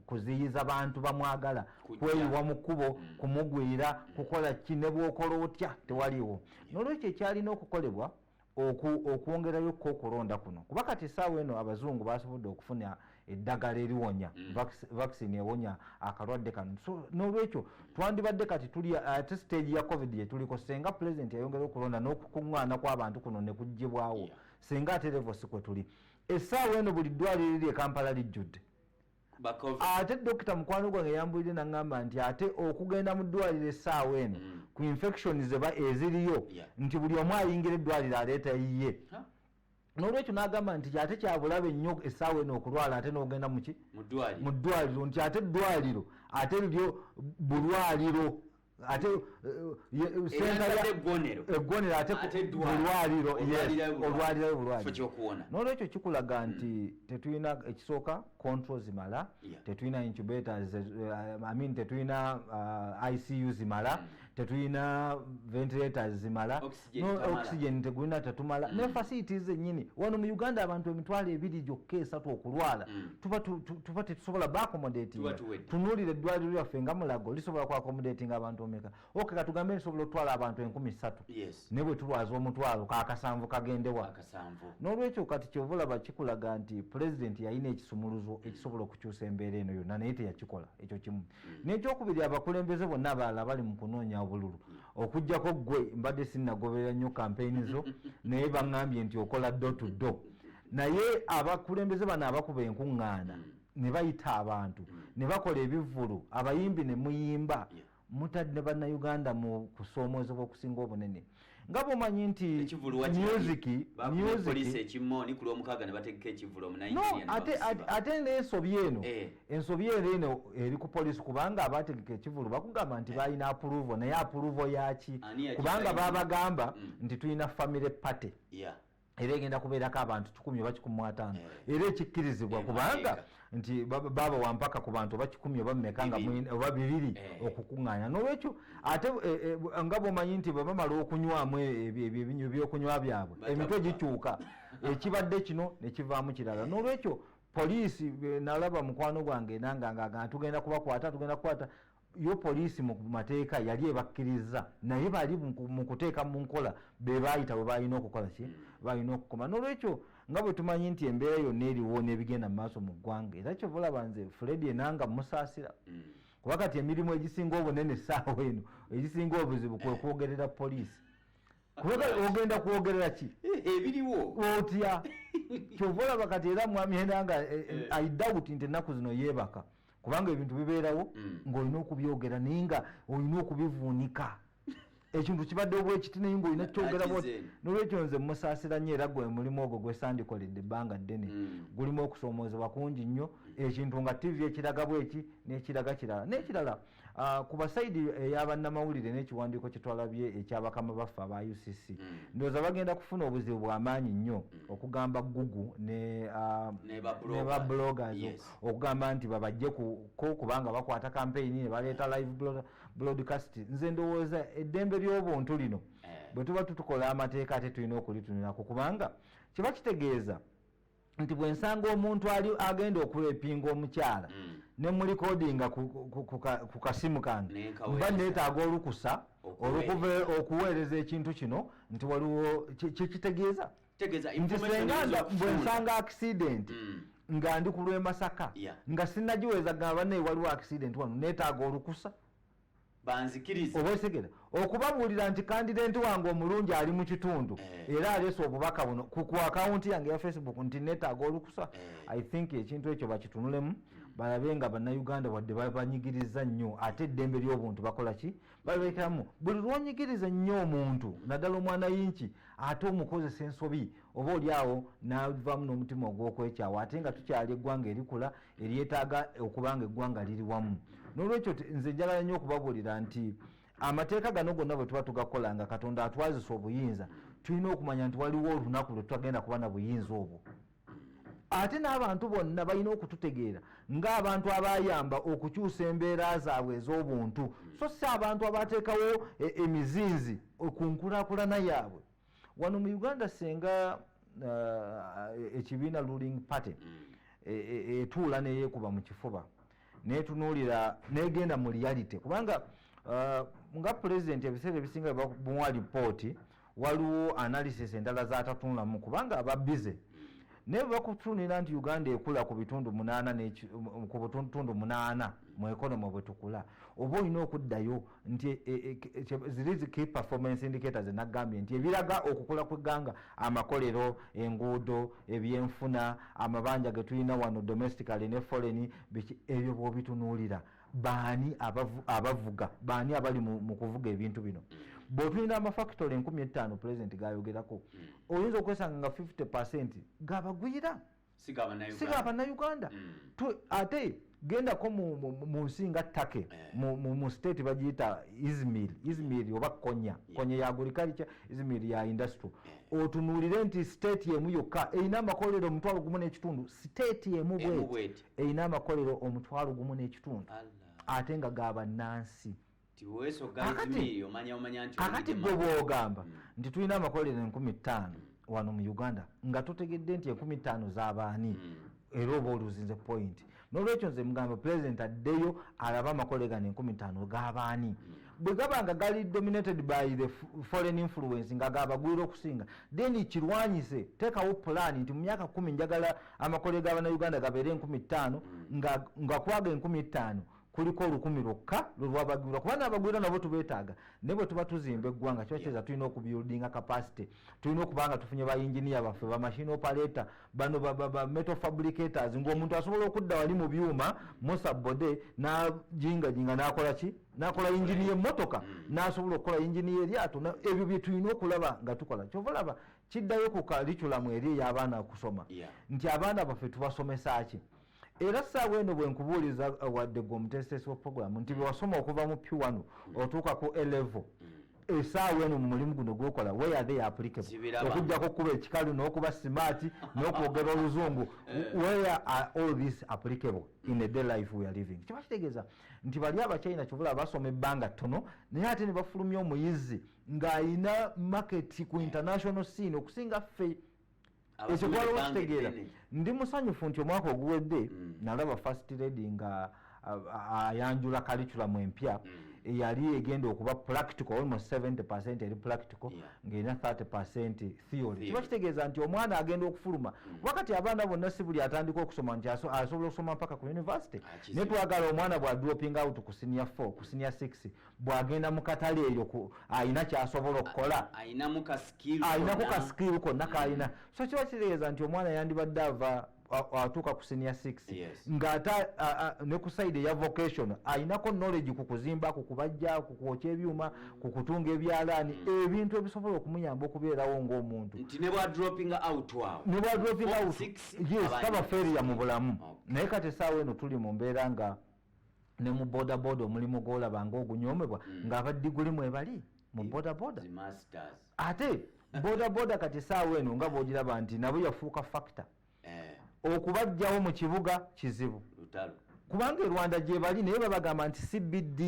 kuziyiza bantu bamwagala kweyiwa mu kkubo mm. kumugwira mm. kukola ki nebwokola otya tewaliwo nolwekyo ekyalina okukolebwa okwongerayo ko okulonda kuno kuba kati esaawa eno abazungu basobodde okufuna eddagala eriwonya mm. vaccine ewonya akalwadde kano nolwekyo twandibadde kati tuli uh, ate stage ya covid gyetuliko senga pulezidenti yayongera okulonda n'okukuŋŋaana kw'abantu kuno ne kuggyibwawo senga ate levosi kwe tuli esaawa eno buli ddwaliro eri ekampala lijjudde ate dokita mukwano gwange yambulire naŋamba nti ate okugenda mu ddwaliro essaawa eno mm. ku infection zeba eziriyo nti buli omu ayingira eddwaliro aleeta yiye nolwekyo nagamba nti ate kyabulabe nnyo essaawa eno okulwala ate nogenda muki mu ddwaliro nti ate eddwaliro ate liryo bulwaliro ate egonero eh, eh, ate bulwaliro olwalirayo bulwaliro nolwekyo kikulaga hmm. nti tetulina ekisooka control zimala tetulina incubators eh, i mean tetulina uh, icu zimala hmm. tetulina ventilators zimala oxygen tegulina tetumala mm. ne facilities zenyini wano mu uganda abantu emitwalo ebiri gyokka esatu okulwala mm. tuba tetusobola baakomodatinga tunuulira eddwaliro lyaffe nga mulago lisobola kuakomodatinga abantu omeka oke katugambe nsobola otwala abantu enkumi satu ne bwe tulwaza omutwalo kakasanvu kagendewa n'olwekyo kati kyova olaba kikulaga nti pulezidenti yalina ekisumuluzo mm. ekisobola okukyusa embeera eno yonna naye teyakikola ekyo kimu n'ekyokubiri abakulembeze bonna abalala bali mu kunoonya obululu okujjako gwe mbadde sinnagoberera nnyo kampeyini zo naye baŋŋambye nti okola do to do naye abakulembeze bano abakuba enkuŋŋaana mm. ne bayita abantu mm. ne bakola ebivvulu abayimbi ne muyimba mutadde ne bannayuganda mu kusoomoozebwa okusinga obunene nga bwomanyi nti ate neesobi eno eh. ensobi eno eno eri ku polisi kubanga abategeka ekivulu bakugamba nti balina apuluvo naye apuluvo yaki kubanga babagamba mm. nti tulina family party era egenda kubeerako abantu kikumi oba kikumi mwataano eh. era ekikkirizibwa eh, kubanga nti baaba wampaka ku bantu oba kikumi oba mumeka nga oba bibiri eh. okukuŋŋaanya n'olwekyo ate nga bwomanyi nti bwe bamala okunywamu ebyokunywa byabwe emitwe gikyuka ekibadde kino ne kivaamu kirala n'olwekyo poliisi nalaba mukwano gwange nanga ngagana tugenda kubakwata tugenda kukwata yo poliisi mu mateeka yali ebakkiriza naye bali mu kuteeka mu nkola be baayita bwe balina okukola ki balina okukoma n'olwekyo nga bwe tumanyi nti embeera yonna eriwo n'ebigenda mu maaso mu ggwanga era kyova olaba nze fredi enanga musaasira mm. kuba kati emirimu egisinga obunene essaawa eno egisinga obuzibu kwe kwogerera poliisi ogenda kwogerera ki eh, ebiriwo otya kyova olaba kati era mwami ena nga eh, eh, i doubt nti ennaku zino yeebaka kubanga ebintu bibeerawo mm. ng'olina okubyogera naye nga olina okubivuunika ekintu kibadde obwekiti naye ngaolina kyogera nolwekyo nze musaasira nyo era gwe mulimu ogwo gwesandikolede ebbanga ddene mm. gulimu okusoomoozebwa kungi nnyo ekintu nga tivi ekiraga bweki n'ekiraga kirala n'ekirala Ah, ku basaidi eyabannamawulire n'ekiwandiiko kye twalabye ekyabakama baffe aba ucc hmm. ndowooza bagenda kufuna obuzibu bw'amaanyi nnyo hmm. okugamba gugu ne ah, ba bloggers okugamba nti babajje ko kubanga bakwata kampeyini ne baleeta live broadcast nze ndowooza eddembe ly'obuntu lino eh. bwe tuba tutukola amateeka ate tulina okulitunirako kubanga kiba kitegeeza nti bwensanga omuntu ali agenda okurepinga omukyala mm. ne mulikodinga ku kasimu kange mba neetaaga olukusa olukuva okuweereza ekintu kino nti waliwo kyekitegeeza nti senganda bwensanga akisidenti mm. nga ndi ku lwemasaka nga sinagiweza gamba naye waliwo akisidenti wano neetaaga olukusa banzikirize oba okitegera okubabuulira nti kandidenti wange omulungi ali mu kitundu eh. era aleese obubaka buno ku akawunti yange ya facebook nti netaaga olukusa eh. i think ekintu ekyo bakitunulemu hmm. balabe nga bannayuganda wadde babanyigiriza nnyo ate eddembe ly'obuntu bakola ki balekeramu buli lwonyigiriza nnyo omuntu naddala omwana yinki ate omukozesa ensobi oba oli awo navamu n'omutima ogw'okwekyawa ate nga tukyali eggwanga erikula eryetaaga okuba nga eggwanga liri wamu n'olwekyo nze njagala nnyo okubabuulira nti amateeka gano gonna bwe tuba tugakola nga katonda atwazisa obuyinza tulina okumanya nti waliwo olunaku lwe tutagenda kuba na buyinza obwo ate n'abantu bonna balina okututegeera ng'abantu abayamba okukyusa embeera zaabwe ez'obuntu so si abantu abateekawo e, emizinzi ku nkulakulana yaabwe wano mu uganda senga uh, ekibiina ruling party mm. e, e, etuula neyekuba mu kifuba netunuulira negenda mu reality kubanga uh, nga pulezidenti ebiseera ebisinga bamuwa lipooti waliwo analysis endala zatatunulamu kubanga aba bize mm. naye bwebakutunira nti uganda ekula ku bitundu munaana ku butundu munaana mu economy bwetukula oba olina okuddayo nti e, e, e, zirizi key performance indicators nagambye nti ebiraga okukula kwegganga amakolero enguudo ebyenfuna amabanja getulina wano domestically ne foreign biki ebyo bwobitunuulira baani abavuga baani abali mu kuvuga ebintu bino mm. bwotulina amafactory enkumi ettaano pulezidenti gayogerako mm. oyinza okwesanga nga 50 percent gabagwira siga banauganda mm. ate gendako mu nsi nga take eh. mu state bagiyita izmir izmir oba konya konya ya agriculture izmir ya industry eh. otunuulire nti state emu yokka erina amakolero omutwalo gumu n'ekitundu state emu bweti erina amakolero omutwalo gumu n'ekitundu ate nga ga bannansi kakati gwe bwogamba hmm. nti tulina amakolero enkumi ttaano hmm. wano mu uganda nga tutegedde nti enkumi ttaano z'abaani hmm. era oba oluzinze pointi nolwekyo nze mugamba pulezidenti addeyo alaba amakole gano enkumi ttaano g'abaani bwe gaba nga gali dominated by the foreign influence nga gabagwira okusinga then kirwanyise teekawo pulaani nti mu myaka kumi njagala amakolero ga bannayuganda gabeera enkumi ttaano hmm. nga, nga kwaga enkumi ettaano kuliko olukumi lwokka lwelwabagirwa kuba nabagwira nabo tubetaaga naye bwe tuba tuzimba eggwanga kiba kiza tulina okubuildinga capacity tulina okuba nga tufunye ba enginia baffe bamashine operator bano bametal fabricators ngaomuntu asobola okudda wali mu byuma musabode najingajinga nakola ki nakola yingini yemotoka mm. nasobola okukola yingini yeryato ebyo byetulina okulaba nga tukola kyovalaba kiddayo ku kaliculamu eri ey'abaana okusoma nti abaana baffe tubasomesa ki era saawa eno bwenkubuuliza uh, wadde gwe omuteesiteesi wa programu nti bewasoma okuva mu p1 otuuka ku elevo mm. esaawa eno mu mulimu guno gwokola weyathe yapulikable okujjako okuba ekikalu n'okuba simaati n'okwogera oluzungu eh. where are all this applicable in a day life weare living kiba kitegeeza nti bali abachina kivula basoma ebbanga ttono naye ate ne bafulumya omuyizi ng'alina market ku international scene okusinga ffe ekyo twala okitegeera ndi musanyufu nti omwaka oguwedde mm. nalaba first lady nga ayanjula kaliculamu empya mm. eyali egenda okuba practical almost 70 percent eri practical ngaerina 30 percent theory kiba kitegeeza nti omwana agenda okufuluma mm. wakati abaana bonna si buli atandika okusoma nti asobola okusoma mpaka ku university naye twagala omwana bwa dropping out ku sinia 4 ku sinia 6 bwagenda mukatale eyo alina kyasobola okukola alinaku kasikiiru konna kalina mm. so kiba kitegeeza nti omwana yandibadde ava atuuka ku senior six ngaate ne ku side eya vocation alinako knowledge ku kuzimba ku kubajja ku kwokya ebyuma ku mm. kutunga ebyalaani mm. ebintu ebisobola okumuyamba okubeerawo ng'omuntu nebwadropingoutaba feria mu bulamu naye kati esaawa eno tuli mu mbeera nga ne mu bodaboda omulimu gwolaba nga ogunyomebwa mm. ngaaba diguli mwebali mu bodaboda ate bodaboda kati saawa eno nga bwogiraba nti nabo yafuuka fakita eh. okubajjawo mu kibuga kizibu kubanga erwanda gyebali naye babagamba nti cbd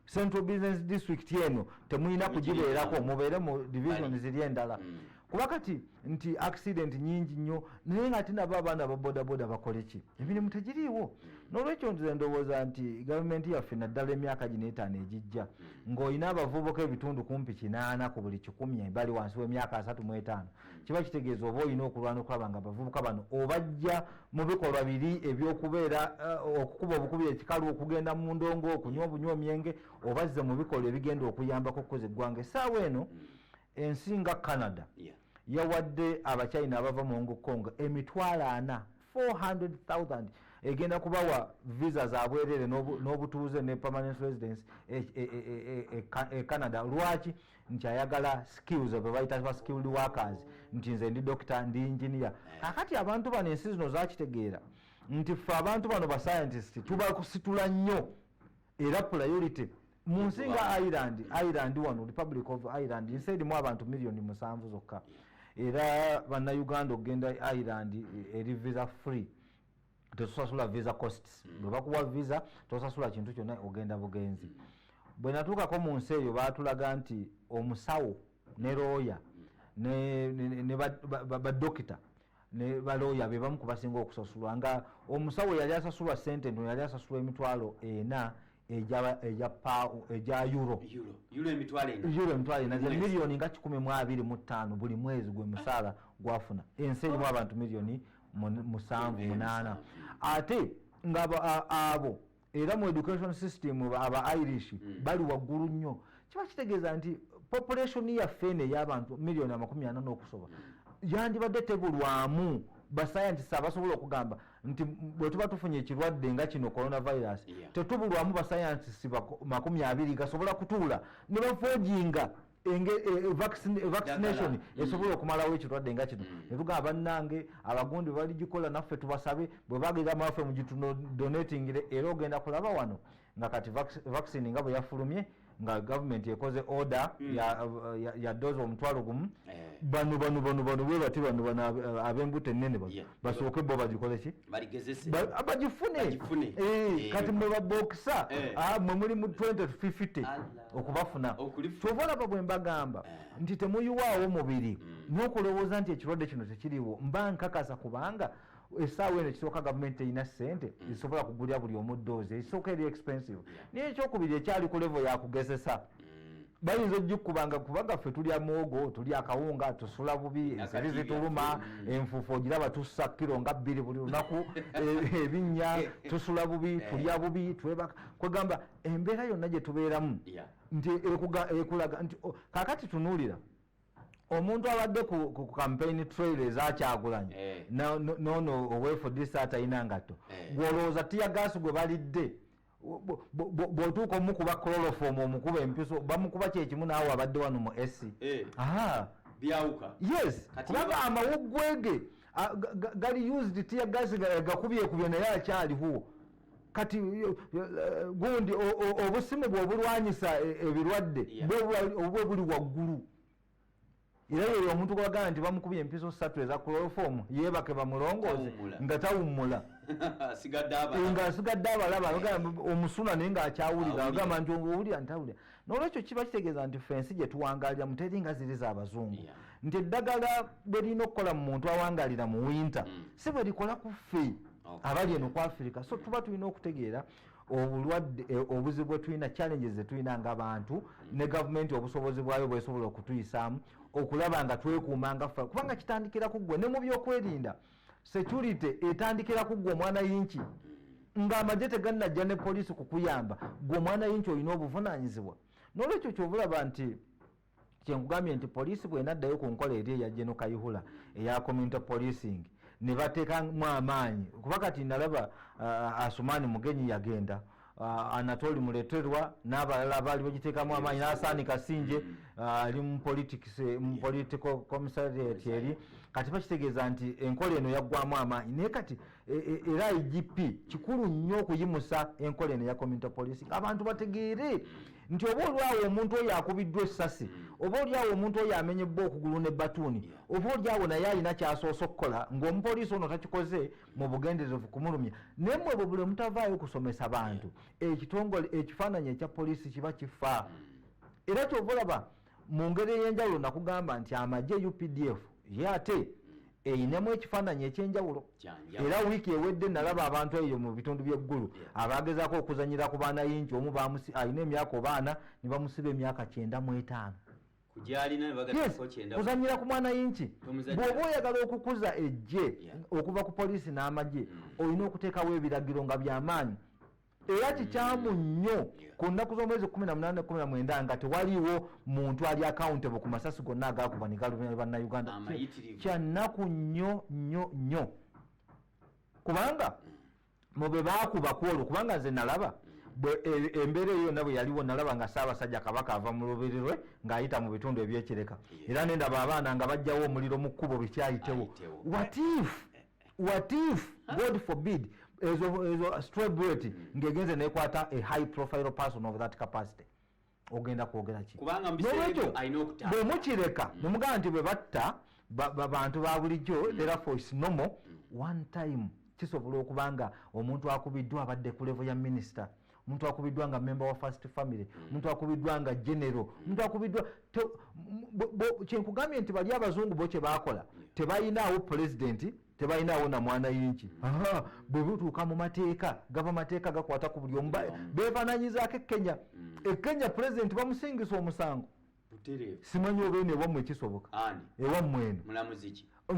central business district eno temulina kugibeerako mubeere mu division ziri endala mm. kuba kati nti accident nyingi nnyo naye nga ate nabo abaana babodaboda bakoleki emirimu tegiriiwo mm. nolwekyo nze ndowooza nti gavumenti yaffe naddala emyaka gino etaano egijja mm. ng'olina abavubuka ebitundu kumpi kinaana ku buli kikumi bali wansi w'emyaka asatu mu etaano hmm. kiba kitegeeza oba olina okulwana okulaba nga abavubuka bano obajja mu bikolwa biri ebyokubeera eh, okukuba obukubi ekikalu okugenda mu ndongo okunywa obunywa omyenge obazze mu bikolwa ebigenda okuyambako okukoza eggwanga esaawa eno hmm. ensi nga canada yawadde abachina abava mu hong kong emitwalo ana 400,000 egenda kubawa visa za bwerere n'obutuuze ne permanent residence e, e, e, e canada lwaki nti ayagala skills ebe bayita ba skilled workers nti nze ndi dokita ndi engineer kakati abantu bano ensi zino zakitegeera nti ffe abantu bano bascientist tubakusitula nnyo era priority munsi nga ireland ireland wano republic of ireland nsi erimu abantu miliyoni musanvu zokka era bannayuganda okugenda ireland eri visa free tetusasula visa costs mm. bwe bakuwa visa tosasula kintu kyonna ogenda bugenzi mm. bwe natuukako mu nsi eyo baatulaga nti omusawo ne looya mm. ne badokita ne balooya be bamu kubasinga okusasulwa nga omusawo yali asasulwa sente ntono yali asasulwa emitwalo ena egya euro emitwalo ena zemiliyoni nga kikumi mu abiri mu ttaano buli mwezi gwe musaala gwafuna ensi erimu abantu miliyoni musanvu munaana ate nga abo era mu education system aba irish mm. bali waggulu nnyo kiba kitegeeza nti population yaffe eno eyabantu miliyoni amakumi ana n'okusoba mm. yandibadde tebulwamu basayantist abasobola okugamba nti bwetuba tufunye ekirwadde nga kino coronavirus tetubulwamu basayantist makumi abiri gasobola kutuula ne bafojinga vaccination mm. esobola okumalawo ekirwadde nga kino mm. netugaa bannange abagundi baligikola naffe tubasabe bwebagera maffe mugitudonatingire era ogenda kulaba wano nga kati vaccine nga bweyafulumye nga gavumenti ekoze order mm. ya doze omutwalo gumu eh. bano bano bano bano bwebati bano bano abembuto enene bano basooke bo bagikoleki bagifune eh, eh. kati mwebabokisa ah, mwe muli mu 20 to 50 okubafuna kyova olaba bwe mbagamba eh. nti temuyiwaawo mubiri hmm. n'okulowooza nti ekirwadde kino tekiriwo mba nkakasa kubanga esaawa eno ekisooka gavumenti terina sente hmm. ezisobola kugulira buli omuddoozi ekisooka eri expensive naye ekyokubiri ekyali ku levo yakugezesa hmm. bayinza ojikubanga kubaga ffe tulya mwogo tulya akawunga tusula bubi ensiri zituluma enfufu ogiraba tussa kiro nga bbiri buli lunaku e, ebinnya tusula bubi eh. tulya bubi twebaka kwegamba embeera yonna gye tubeeramu nti ekulaga nti kakati tunuulira omuntu abadde ku campaign trail ezakyagulanyi eh. nono owefudisa atalina ngatto eh. gwolowooza tiyagaasi gwe balidde bwotuuka omukuba clorofomu omukuba empiso bamukuba kyekimu naawe abadde wano mu ac eh. byawuka yes kubanga amawuggwege gali used tiyagaasi gakubyekubye naye akyaliwo kati gundi obusimu bwobulwanyisa e, ebirwadde obubwe buli waggulu era yeyo omuntu gwagamba nti bamukubye empiso satu eza clorofomu yebake bamulongooze nga tawummula nga asigadde abalaba omusuna naye nga akyawulira agamba nti owulira ntawulira nolwekyo kiba kitegeeza nti fe ensi gyetuwangalira muteri nga ziri zabazungu nti eddagala bwerina okukola mu muntu awangalira mu winter mm. si bwerikola ku fe abali eno ku afirika so tuba tulina okutegeera obulwadde eh, obuzibu bwetulina challenges zetulina nga bantu mm. ne gavumenti obusobozi bwayo bwesobola okutuyisaamu okulaba nga twekuuma nga fa kubanga kitandikira ku ggwe ne mu byokwerinda security etandikira ku gwe omwana yinki ng'amagye teganajja ne poliisi kukuyamba gwe omwana yinki olina obuvunanyizibwa nolwekyo kyobulaba nti kyenkugambye nti poliisi bwenaddayo ku nkola eri eya geno kayihula eya community policing nebatekamu amaanyi kuba kati nalaba uh, asumani mugenyi yagenda uh, anatoli muleterwa n'abalala baali bagiteekamu amaanyi n'asaani kasinje mm. uh, ali mu politics eh, mu political commissariat eri kati bakitegeeza nti enkola eno yaggwamu amaanyi naye kati e, e, era igp kikulu nnyo okuyimusa enkola eno ya community policy abantu bategeere nti oba olyawo omuntu oyo akubiddwa essasi mm. oba olyawo omuntu oyo amenyebbwa okugulu ne batuuni oba olyawo naye alina kyasoose okukola ng'omupoliisi ono takikoze mu bugenderevu kumulumya naye mwe bwe buli mutavaayo kusomesa bantu ekitongole ekifaananyi ekya poliisi kiba kifa era kyova olaba mu ngeri ey'enjawulo nakugamba nti amagye updf ye ate eyinemu ekifaananyi ekyenjawulo era wiiki ewedde nalaba abantu eyo mu bitundu byeggulu abagezako okuzanyira ku baana yinki omu alina emyaka obaana ne bamusiba emyaka kyenda mu etaano kuzanyira ku mwana yinki bwoba oyagala okukuza ejje okuva ku poliisi n'amagye hmm. olina okuteekawo ebiragiro nga byamaanyi era hmm. kikyamu nnyo ku nnaku z'omwezi kumi na munana kumi na mwenda nga tewaliwo muntu ali accountable ku masasi gonna agakuba ne galumya bannayuganda kyannaku nnyo nnyo nnyo kubanga hmm. mu be baakuba ku olwo kubanga nze nalaba e, embeera eyo yonna bwe yaliwo nalaba nga ssaabasajja kabaka ava mu lubiri lwe ng'ayita mu bitundu ebyekireka era ne ndaba abaana nga bajjawo omuliro mu kkubo lukyayitewo watif watif god forbid ezo strebret mm. ng'egenze nekwata a high profile person of that capacity ogenda kwogera ki nolwekyo bwemukireka mm. nemugamba nti bwebatta babantu ba bulijjo mm. therefore is normal mm. one time kisobola okuba nga omuntu akubiddwa abadde ku levo ya minisita omuntu akubiddwa nga memba wa first family omuntu akubiddwa nga genero omuntu akubiddwa kyenkugambye nti bali abazungu bo kyebakola tebayinaawo pulezidenti tebalinaawo na mwana yinki bwe butuuka mu mateeka gava mateeka gakwata ku buli omu beefananyizaako ekenya mm. ekenya pulezidenti bamusingisa omusango simanyi obeeno ewammwe ekisoboka ewammwe eno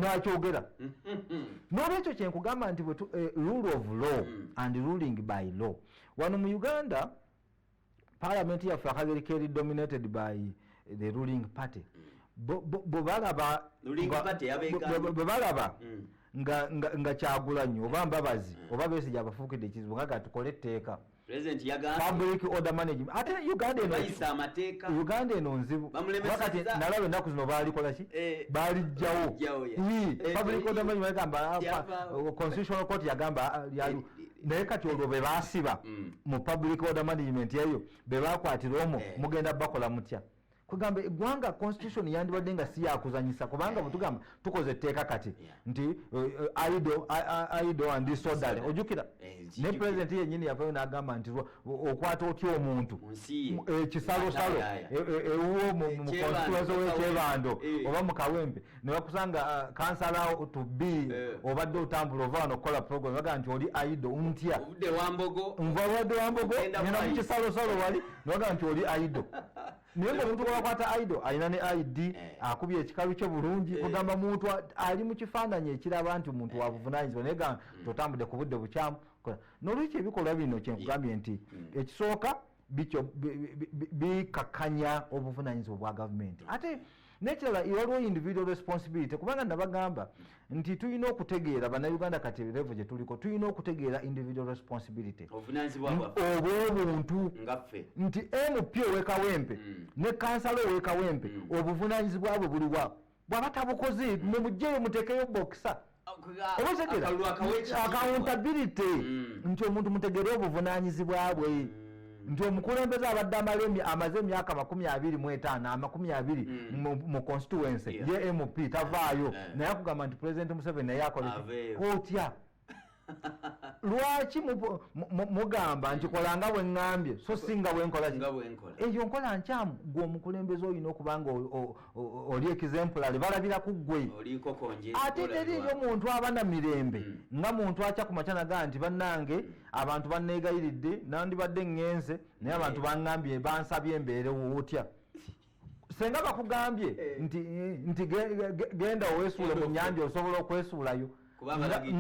nakyogera n'olwekyo kyenkugamba nti eh, rule of law mm. and ruling by law wano mu uganda parliament yaffe akageri keri dominated by the ruling party bwebalaba mm. nga kyagulanyi oba mbabazi mm. oba besija abafuukidde ekizibu nga gatukole etteeka public order management ate uganda eno uganda eno nzibu wakati nalaba ennaku zino baalikola ki eh, baalijjawo public order management yagamba constitutional court yagamba ah, naye kati olwo bebasiba mm. mu public order management eyo bebakwatira omo eh. mugenda bakola mutya kugamba egwanga constitution yandibadde nga siyakuzanyisa kubanga bwetugamba eh. tukoze etteeka kati nti eh, ido ido and disorderly ojukira ne president yenyini yavayo nagamba nti okwata otya omuntu ekisalosalo ewuwo mu constituency wekyebando oba mukawempe nebakusanga uh, kansalawo to be eh. obadde otambula ova wano okukola program bagaa nti oli aido ntya nva obadde wambogo enda mukisalosalo wali nebagaa nti oli aido naye nga omuntu gwebakwata aido alina ne id eh. akubye ekikalu kye bulungi eh. kugamba muntu ali mu kifaananyi ekiraba nti muntu wabuvunanyizibwa naye ga hmm. totambudde ku budde bukyamu nolwekyo ebikolwa bino kyenkugambye nti hmm. ekisooka bikakanya obuvunanyizibwa bwa gavumenti ate nekirala waliwo individual responsibility kubanga nabagamba nti tulina okutegeera banauganda kati revo gyetuliko tulina okutegeera individual responsibility obwobuntu nti mp owekawempe mm. ne kansala owekawempe mm. obuvunanyizibwa bwe buliwa bwaba tabukoze mumugyeyo mutekeyo bokisa akauntabirity mm. nti omuntu mutegere obuvunanyizibwa bwe mm. nti omukulembeze abadde amalemi amaze emyaka makumi abiri mu etaano amakumi abiri mm. mu constituency ye mp tavaayo naye akugamba nti president museveni naye akole kotya lwaki mugamba nti kola nga bwe ŋŋambye so si nga bwe nkola eyo nkola nkyamu gwe omukulembeze olina okuba nga oli ekizempulale balabira ku ggwe ate teriiyo muntu aba na mirembe hmm. nga muntu akya ku makya nagaa nti bannange hmm. abantu banneegayiridde nandibadde ŋŋenze naye abantu baŋŋambye bansabye embeerewo otya senga bakugambye eh. nti nti genda owesuule mu nyanja osobola okwesuulayo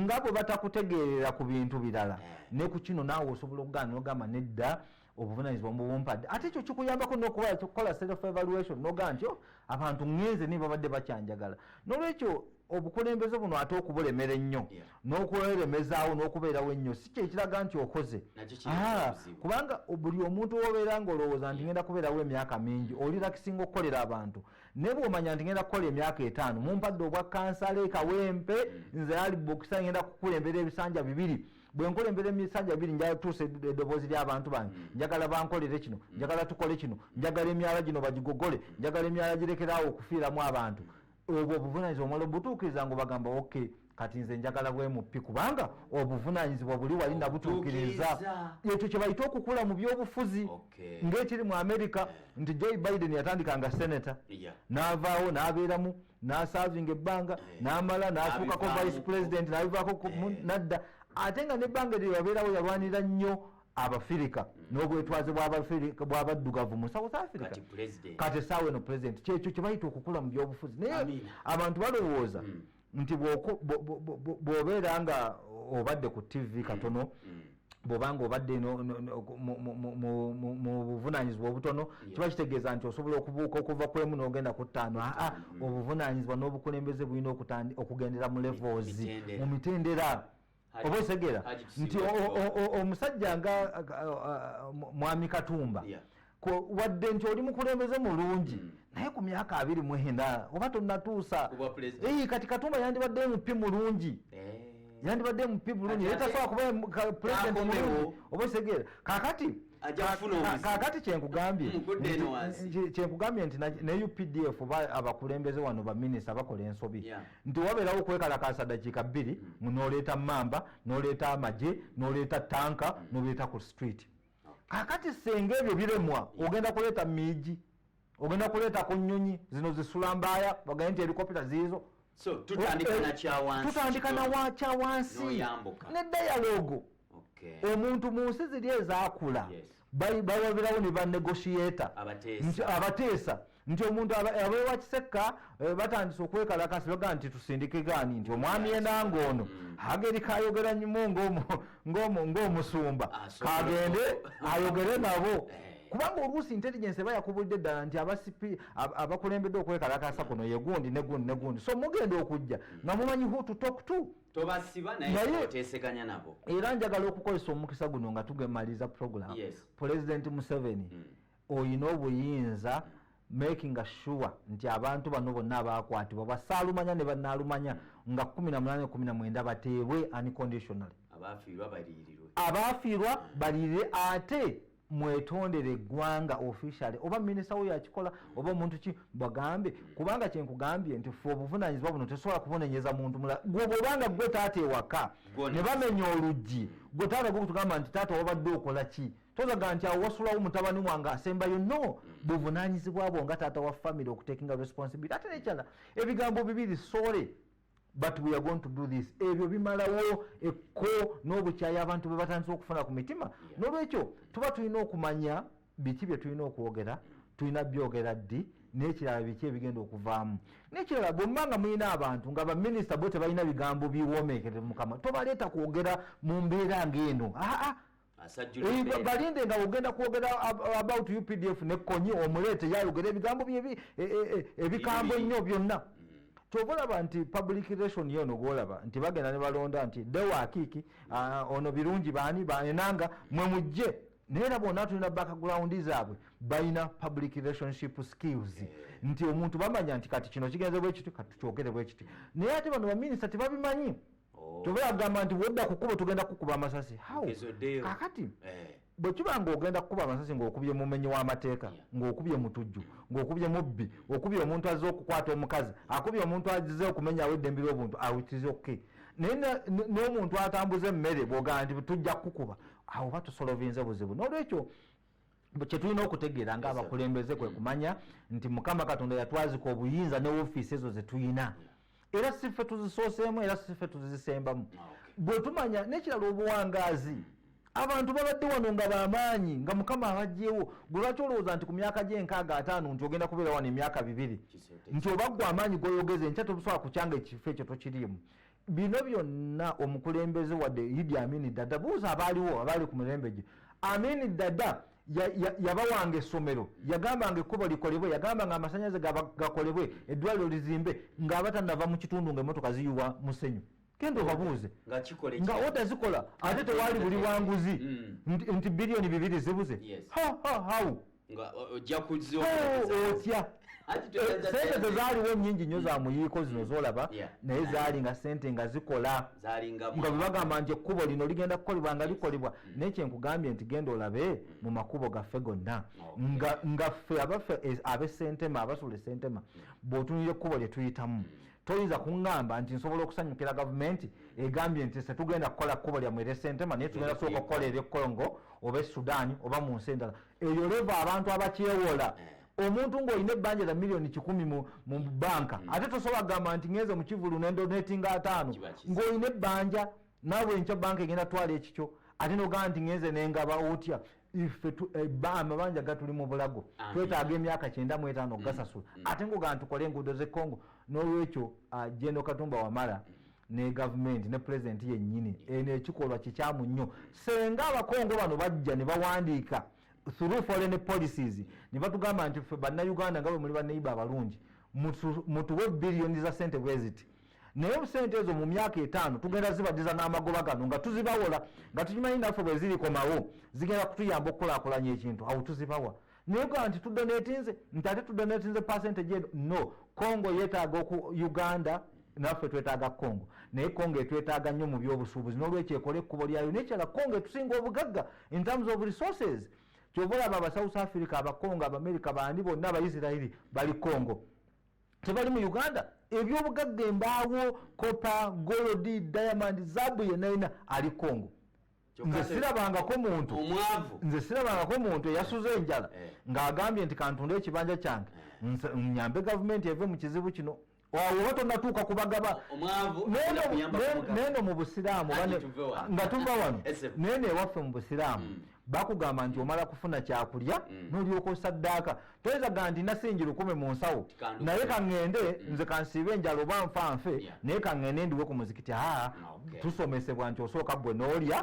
nga bwe batakutegeerera ku bintu birala eh. ne ku kino naawe osobola okugaana nogamba nedda obuvunanyizibwa mubumpadde ate ekyo kikuyambako nokukola self evaluation nogaa nti oh, abantu ngenze naye babadde bakyanjagala nolwekyo obukulembeze buno ate okubulemera ennyo n'okweremezaawo n'okubeerawo ennyo si kyekiraga nti okoze ah, kubanga buli omuntu wobeera nga olowooza nti ngenda kubeerawo emyaka mingi olirakisinga okukolera abantu naye bwomanya nti ngenda kukola emyaka etaano mumpadde obwa kansala ekawempe mm. nze ali bokisa ngenda kukulembera ebisanja bibiri bwenkola embeera emisajja biri njala tuusa eddoboozi lyabantu bange mm. njagala bankolere kino mm. njagala tukole kino njagala emyala gino bagigogole mm. njagala emyala girekeraawo okufiiramu abantu obwo obuvunanyizibwa omala obutuukiriza nga obagamba ok kati nze njagala bwemupi kubanga obuvunanyizibwa buli wali nabutuukiriza ekyo kyebayita okukula mu byobufuzi ngaekiri mu amerika nti joy biden yatandika nga senata navaawo nabeeramu nasavinga ebbanga eh. namala natuukako vice president nabivaako eh. nadda ate nga nebbanga eryo yabeerawo yalwanira nnyo abafirika mm. n'obwetwaze bwabaddugavu mu south africa kati esaawa eno pulezidenti kyekyo kyebayita okukula mu byobufuzi naye abantu balowooza mm. nti bwobeera nga obadde ku tv mm. katono bwobanga obadde mu buvunanyizibwa obutono kiba kitegeeza nti osobola okubuuka okuva kwemu nogenda ku ttaano aa obuvunanyizibwa n'obukulembeze bulina okugendera mu levels mu mitendera oba osegera nti omusajja nga mwami katumba wadde nti oli mukulembeze mulungi hmm. naye ku myaka abiri mwena oba tonatuusa kati katumba yandibadde mupi mulungi eh. yandibadde mupi bulungi naye tasobola kuba pulezidenti mulungi oba osegera kakati kakati kyenkugambye kyenkugambye nti ne updf abakulembeze wano baminisita bakola ensobi nti wabeerawo okwekalakaasa dakiika bbiri hmm. mu noleeta mamba noleeta amagye noleeta tanka hmm. nobeeta ku street ah. kakati senga ebyo biremwa hmm. ogenda kuleeta miigi ogenda kuleeta ku nyonyi zino zisula mbaaya bagaye nti elikopita ziizo tutandika na kyawansi ne dayalogo omuntu mu nsi ziri ezakula bawabirawo ne banegotiator abateesa nti omuntu abewa kisekka eh, batandise okwekalakasi baga nti tusindike gani nti omwami enanga ono mm. ageri kayogera nyumu ngaomusumba ah, kagende ayogere nabo eh. kubanga oluusi intelligence eba yakubulidde ddala nti abasipi abakulembedde okwekalakasa kuno yegundi negundi negundi so mugenda okujja mm. nga mumanyi hu to talk to tobasiba naye oteseganya nabo era njagala okukozesa omukisa guno nga tugemaliza program yes. pulezidenti museveni mm. oyina obuyinza mm. making sure nti abantu bano bonna abakwatibwa basaalumanya ne banaalumanya mm. nga 1819 bateebwe unconditionally abaafiirwa baliirirwe abaafiirwa mm. baliirire ate mwetondere eggwanga officially oba minisita wo yakikola oba omuntu ki bagambe kubanga kyenkugambye nti fe obuvunanyizibwa buno tesobola kubunonyeza muntu mula gwe bwobanga gwe taata ewaka ne bamenya oluggi gwe taata gwekutugamba nti taata wabadde okola ki tozaga nti awo wasulawo mutabani wange asembayo no buvunanyizibwa bwo nga taata wa famiry okutekinga responsibility ate nekyala ebigambo bibiri sore but we are going to do this ebyo bimalawo ekko n'obukyayi abantu bwe batandise okufuna ku mitima n'olwekyo tuba tulina okumanya biki bye tulina okwogera tulina byogera ddi n'ekirala biki ebigenda okuvaamu n'ekirala bwemba nga mulina abantu nga baminisita bo tebalina bigambo biwomeekere mukama tobaleeta kwogera mu mbeera ng'eno aa balinde nga ogenda kwogera about updf ne konyi omuleete yayogera ebigambo bye e, e, e, ebikambo ennyo byonna mm. kyova olaba nti public relation yono gwolaba nti bagenda ne balonda nti dewakiiki ah, ono birungi baani baenanga mwe mujje naye era bona tulina background zaabwe balina public relationship skills nti omuntu bamanya nti kati kino kigenze bwekiti kati tukyogere bwekiti naye ate bano baminisita tebabimanyi oh. kyova yagamba nti wodda ku kkubo tugenda kukuba amasasi kakati eh. bwe kiba ng'ogenda kukuba amasasi ng'okubye mumenyi w'amateeka ng'okubye mutujju ng'okubye mubbi okubye omuntu azze okukwata omukazi akubye omuntu azize okumenyawo eddembe ly'obuntu awitiza okke naye n'omuntu atambuza emmere bwogamba nti tujja kukukuba awo oba tusolovinze buzibu n'olwekyo kyetulina okutegeera nga abakulembeze kwe kumanya nti mukama katonda yatwazika obuyinza ne ofiisi ezo zetulina era sife tuzisooseemu era sife tuzisembamu ah, bwetumanya nekirala obuwangaazi abantu babadde wano nga bamaanyi nga mukama abajjewo gwe lwaki olowooza nti ku myaka gyenkaaga ataano nti ogenda kubeera wano emyaka bibiri nti oba gwe amaanyi goyogeza enkya tobusobola kukyanga ekifo ekyo tokiriimu bino byonna omukulembeze wadde idi amini dada buuza abaaliwo abaali ku mirembe gye amini dada yabawanga essomero yagambanga ekkubo likolebwe yagambanga amasanyalaze gakolebwe eddwaliro lizimbe ngaabatanava mu kitundu nga emotoka ziyuwa musenyu kendo obabuuze nga oda zikola ate tewali buli wanguzi mm. nti biliyoni bibiri zibuze how nga o- ojja kuzza Oh, otya Anti Eh, toyinza sente sente. zezaaliwo nyingi nnyo za muyiiko zino zolaba Mm. Yeah. naye zaali nga sente nga zikola zalinga nga bwebagamba nti ekkubo lino ligenda kukolebwa nga likolebwa naye kyenkugambye nti genda olabe mu makubo gaffe gonna Okay. nga nga ffe abaffe es- abesentema abasula esentema bw'otunira ekkubo lye tuyitamu toyinza kungamba nti nsobola okusanyukira gavumenti egambye nti se tugenda kukola kkubo lyamu eresentema naye tugenda sooka okukola ebyekongo oba esudaani oba mu nsi endala eyo leva abantu abakyewola eh. omuntu ngaolina ebbanja lya miliyoni kikumi mu banka hmm. ate tosobola kugamba nti ngenze mu kivulu nendonetinga ataano ngaolina ebbanja naawe enkya banka egenda twala ekikyo ate nogamba nti ngenze nengaba otya ife eh, amabanja gatuli mu bulago twetaaga emyaka kyenda mu etaano okugasasula mm, mm. ate ngaogaa tukole enguudo ze congo n'olwekyo ah, jendo katumba wamala mm. ne gavumenti ne pulezidenti yennyini eno ekikolwa kikyamu nnyo senga abakongo bano bajja ne bawandiika through foreign policies ne batugamba nti ffe bannayuganda nga bwe muli baneiba abalungi mutuwe biliyoni za sente bweziti naye sente ezo mu myaka etaano tugenda zibadiza n'amagoba gano nga tuzibawola nga tukimanyi naffe bwe zirikomawo zigenda kutuyamba okukulakulanya ekintu awo tuzibawa naye ga nti tudonetinze nti ate tudonetinze percentage eno no congo yetaaga oku uganda naffe twetaaga congo naye congo etwetaaga nnyo mu byobusuubuzi n'olwekyo ekole ekkubo lyayo nekyala congo etusinga obugagga in terms of resources kyova olaba aba south africa abacongo abamerica bandi bonna abaisirairi bali congo tebali mu uganda ebyobugagga embaawo kopa golodi diamond zabu yenayina ali congo nze sirabangako muntu nze sirabangako muntu eyasuza enjala eh. ng'agambye nti kantunde ekibanja kyange eh. nyambe gavumenti eve mu kizibu kino oba tonatuuka kubagaba neno mu busiraamu nga tuva wano neno ewaffe mu busiraamu mm. bakugamba nti omala kufuna kyakulya mm. nolyoka osaddaaka toyinza ga ndi nasingi lukumi mu nsawo naye kaŋŋende mm. nze kansiiba enjala oba nfa nfe naye kaŋŋende ndiwe ku muzikiti haa ah, tusomesebwa nti osooka ggwe n'olya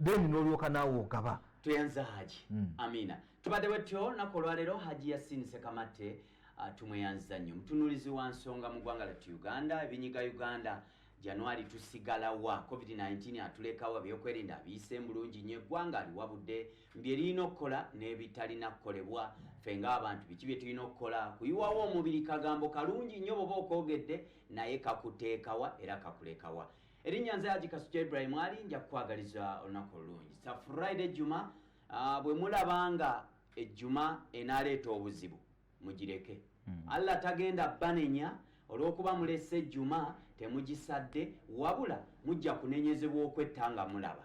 then n'olyoka naawe ogaba tweyanza haji mm. amiina tubadde bwetyo naku olwaleero haji yasiinise kamatte ah, tumweyanza nnyo mutunuulizi wa nsonga mu ggwanga lyattu uganda ebinyiga uganda januari tusigalawa covid-19 atulekawo ebyokwerinda abiyiseemu bulungi nnyo eggwanga aliwabudde bye lirina okukola n'ebitalina kukolebwa ffe ng'abantu biki bye tulina okukola kuyiwawo omubiri kagambo kalungi nnyo bwoba okoogedde naye kakuteekawa era kakulekawa erinnya nze haji kasukya ibrahim ali nja kukwagaliza olunaku olulungi sa friday juma ah, bwe mulaba nga ejjuma enaaleeta obuzibu mugireke hmm. allah tagenda banenya olw'okuba mulese ejjuma temugisadde wabula mujja kunenyezebwa okwetta nga mulaba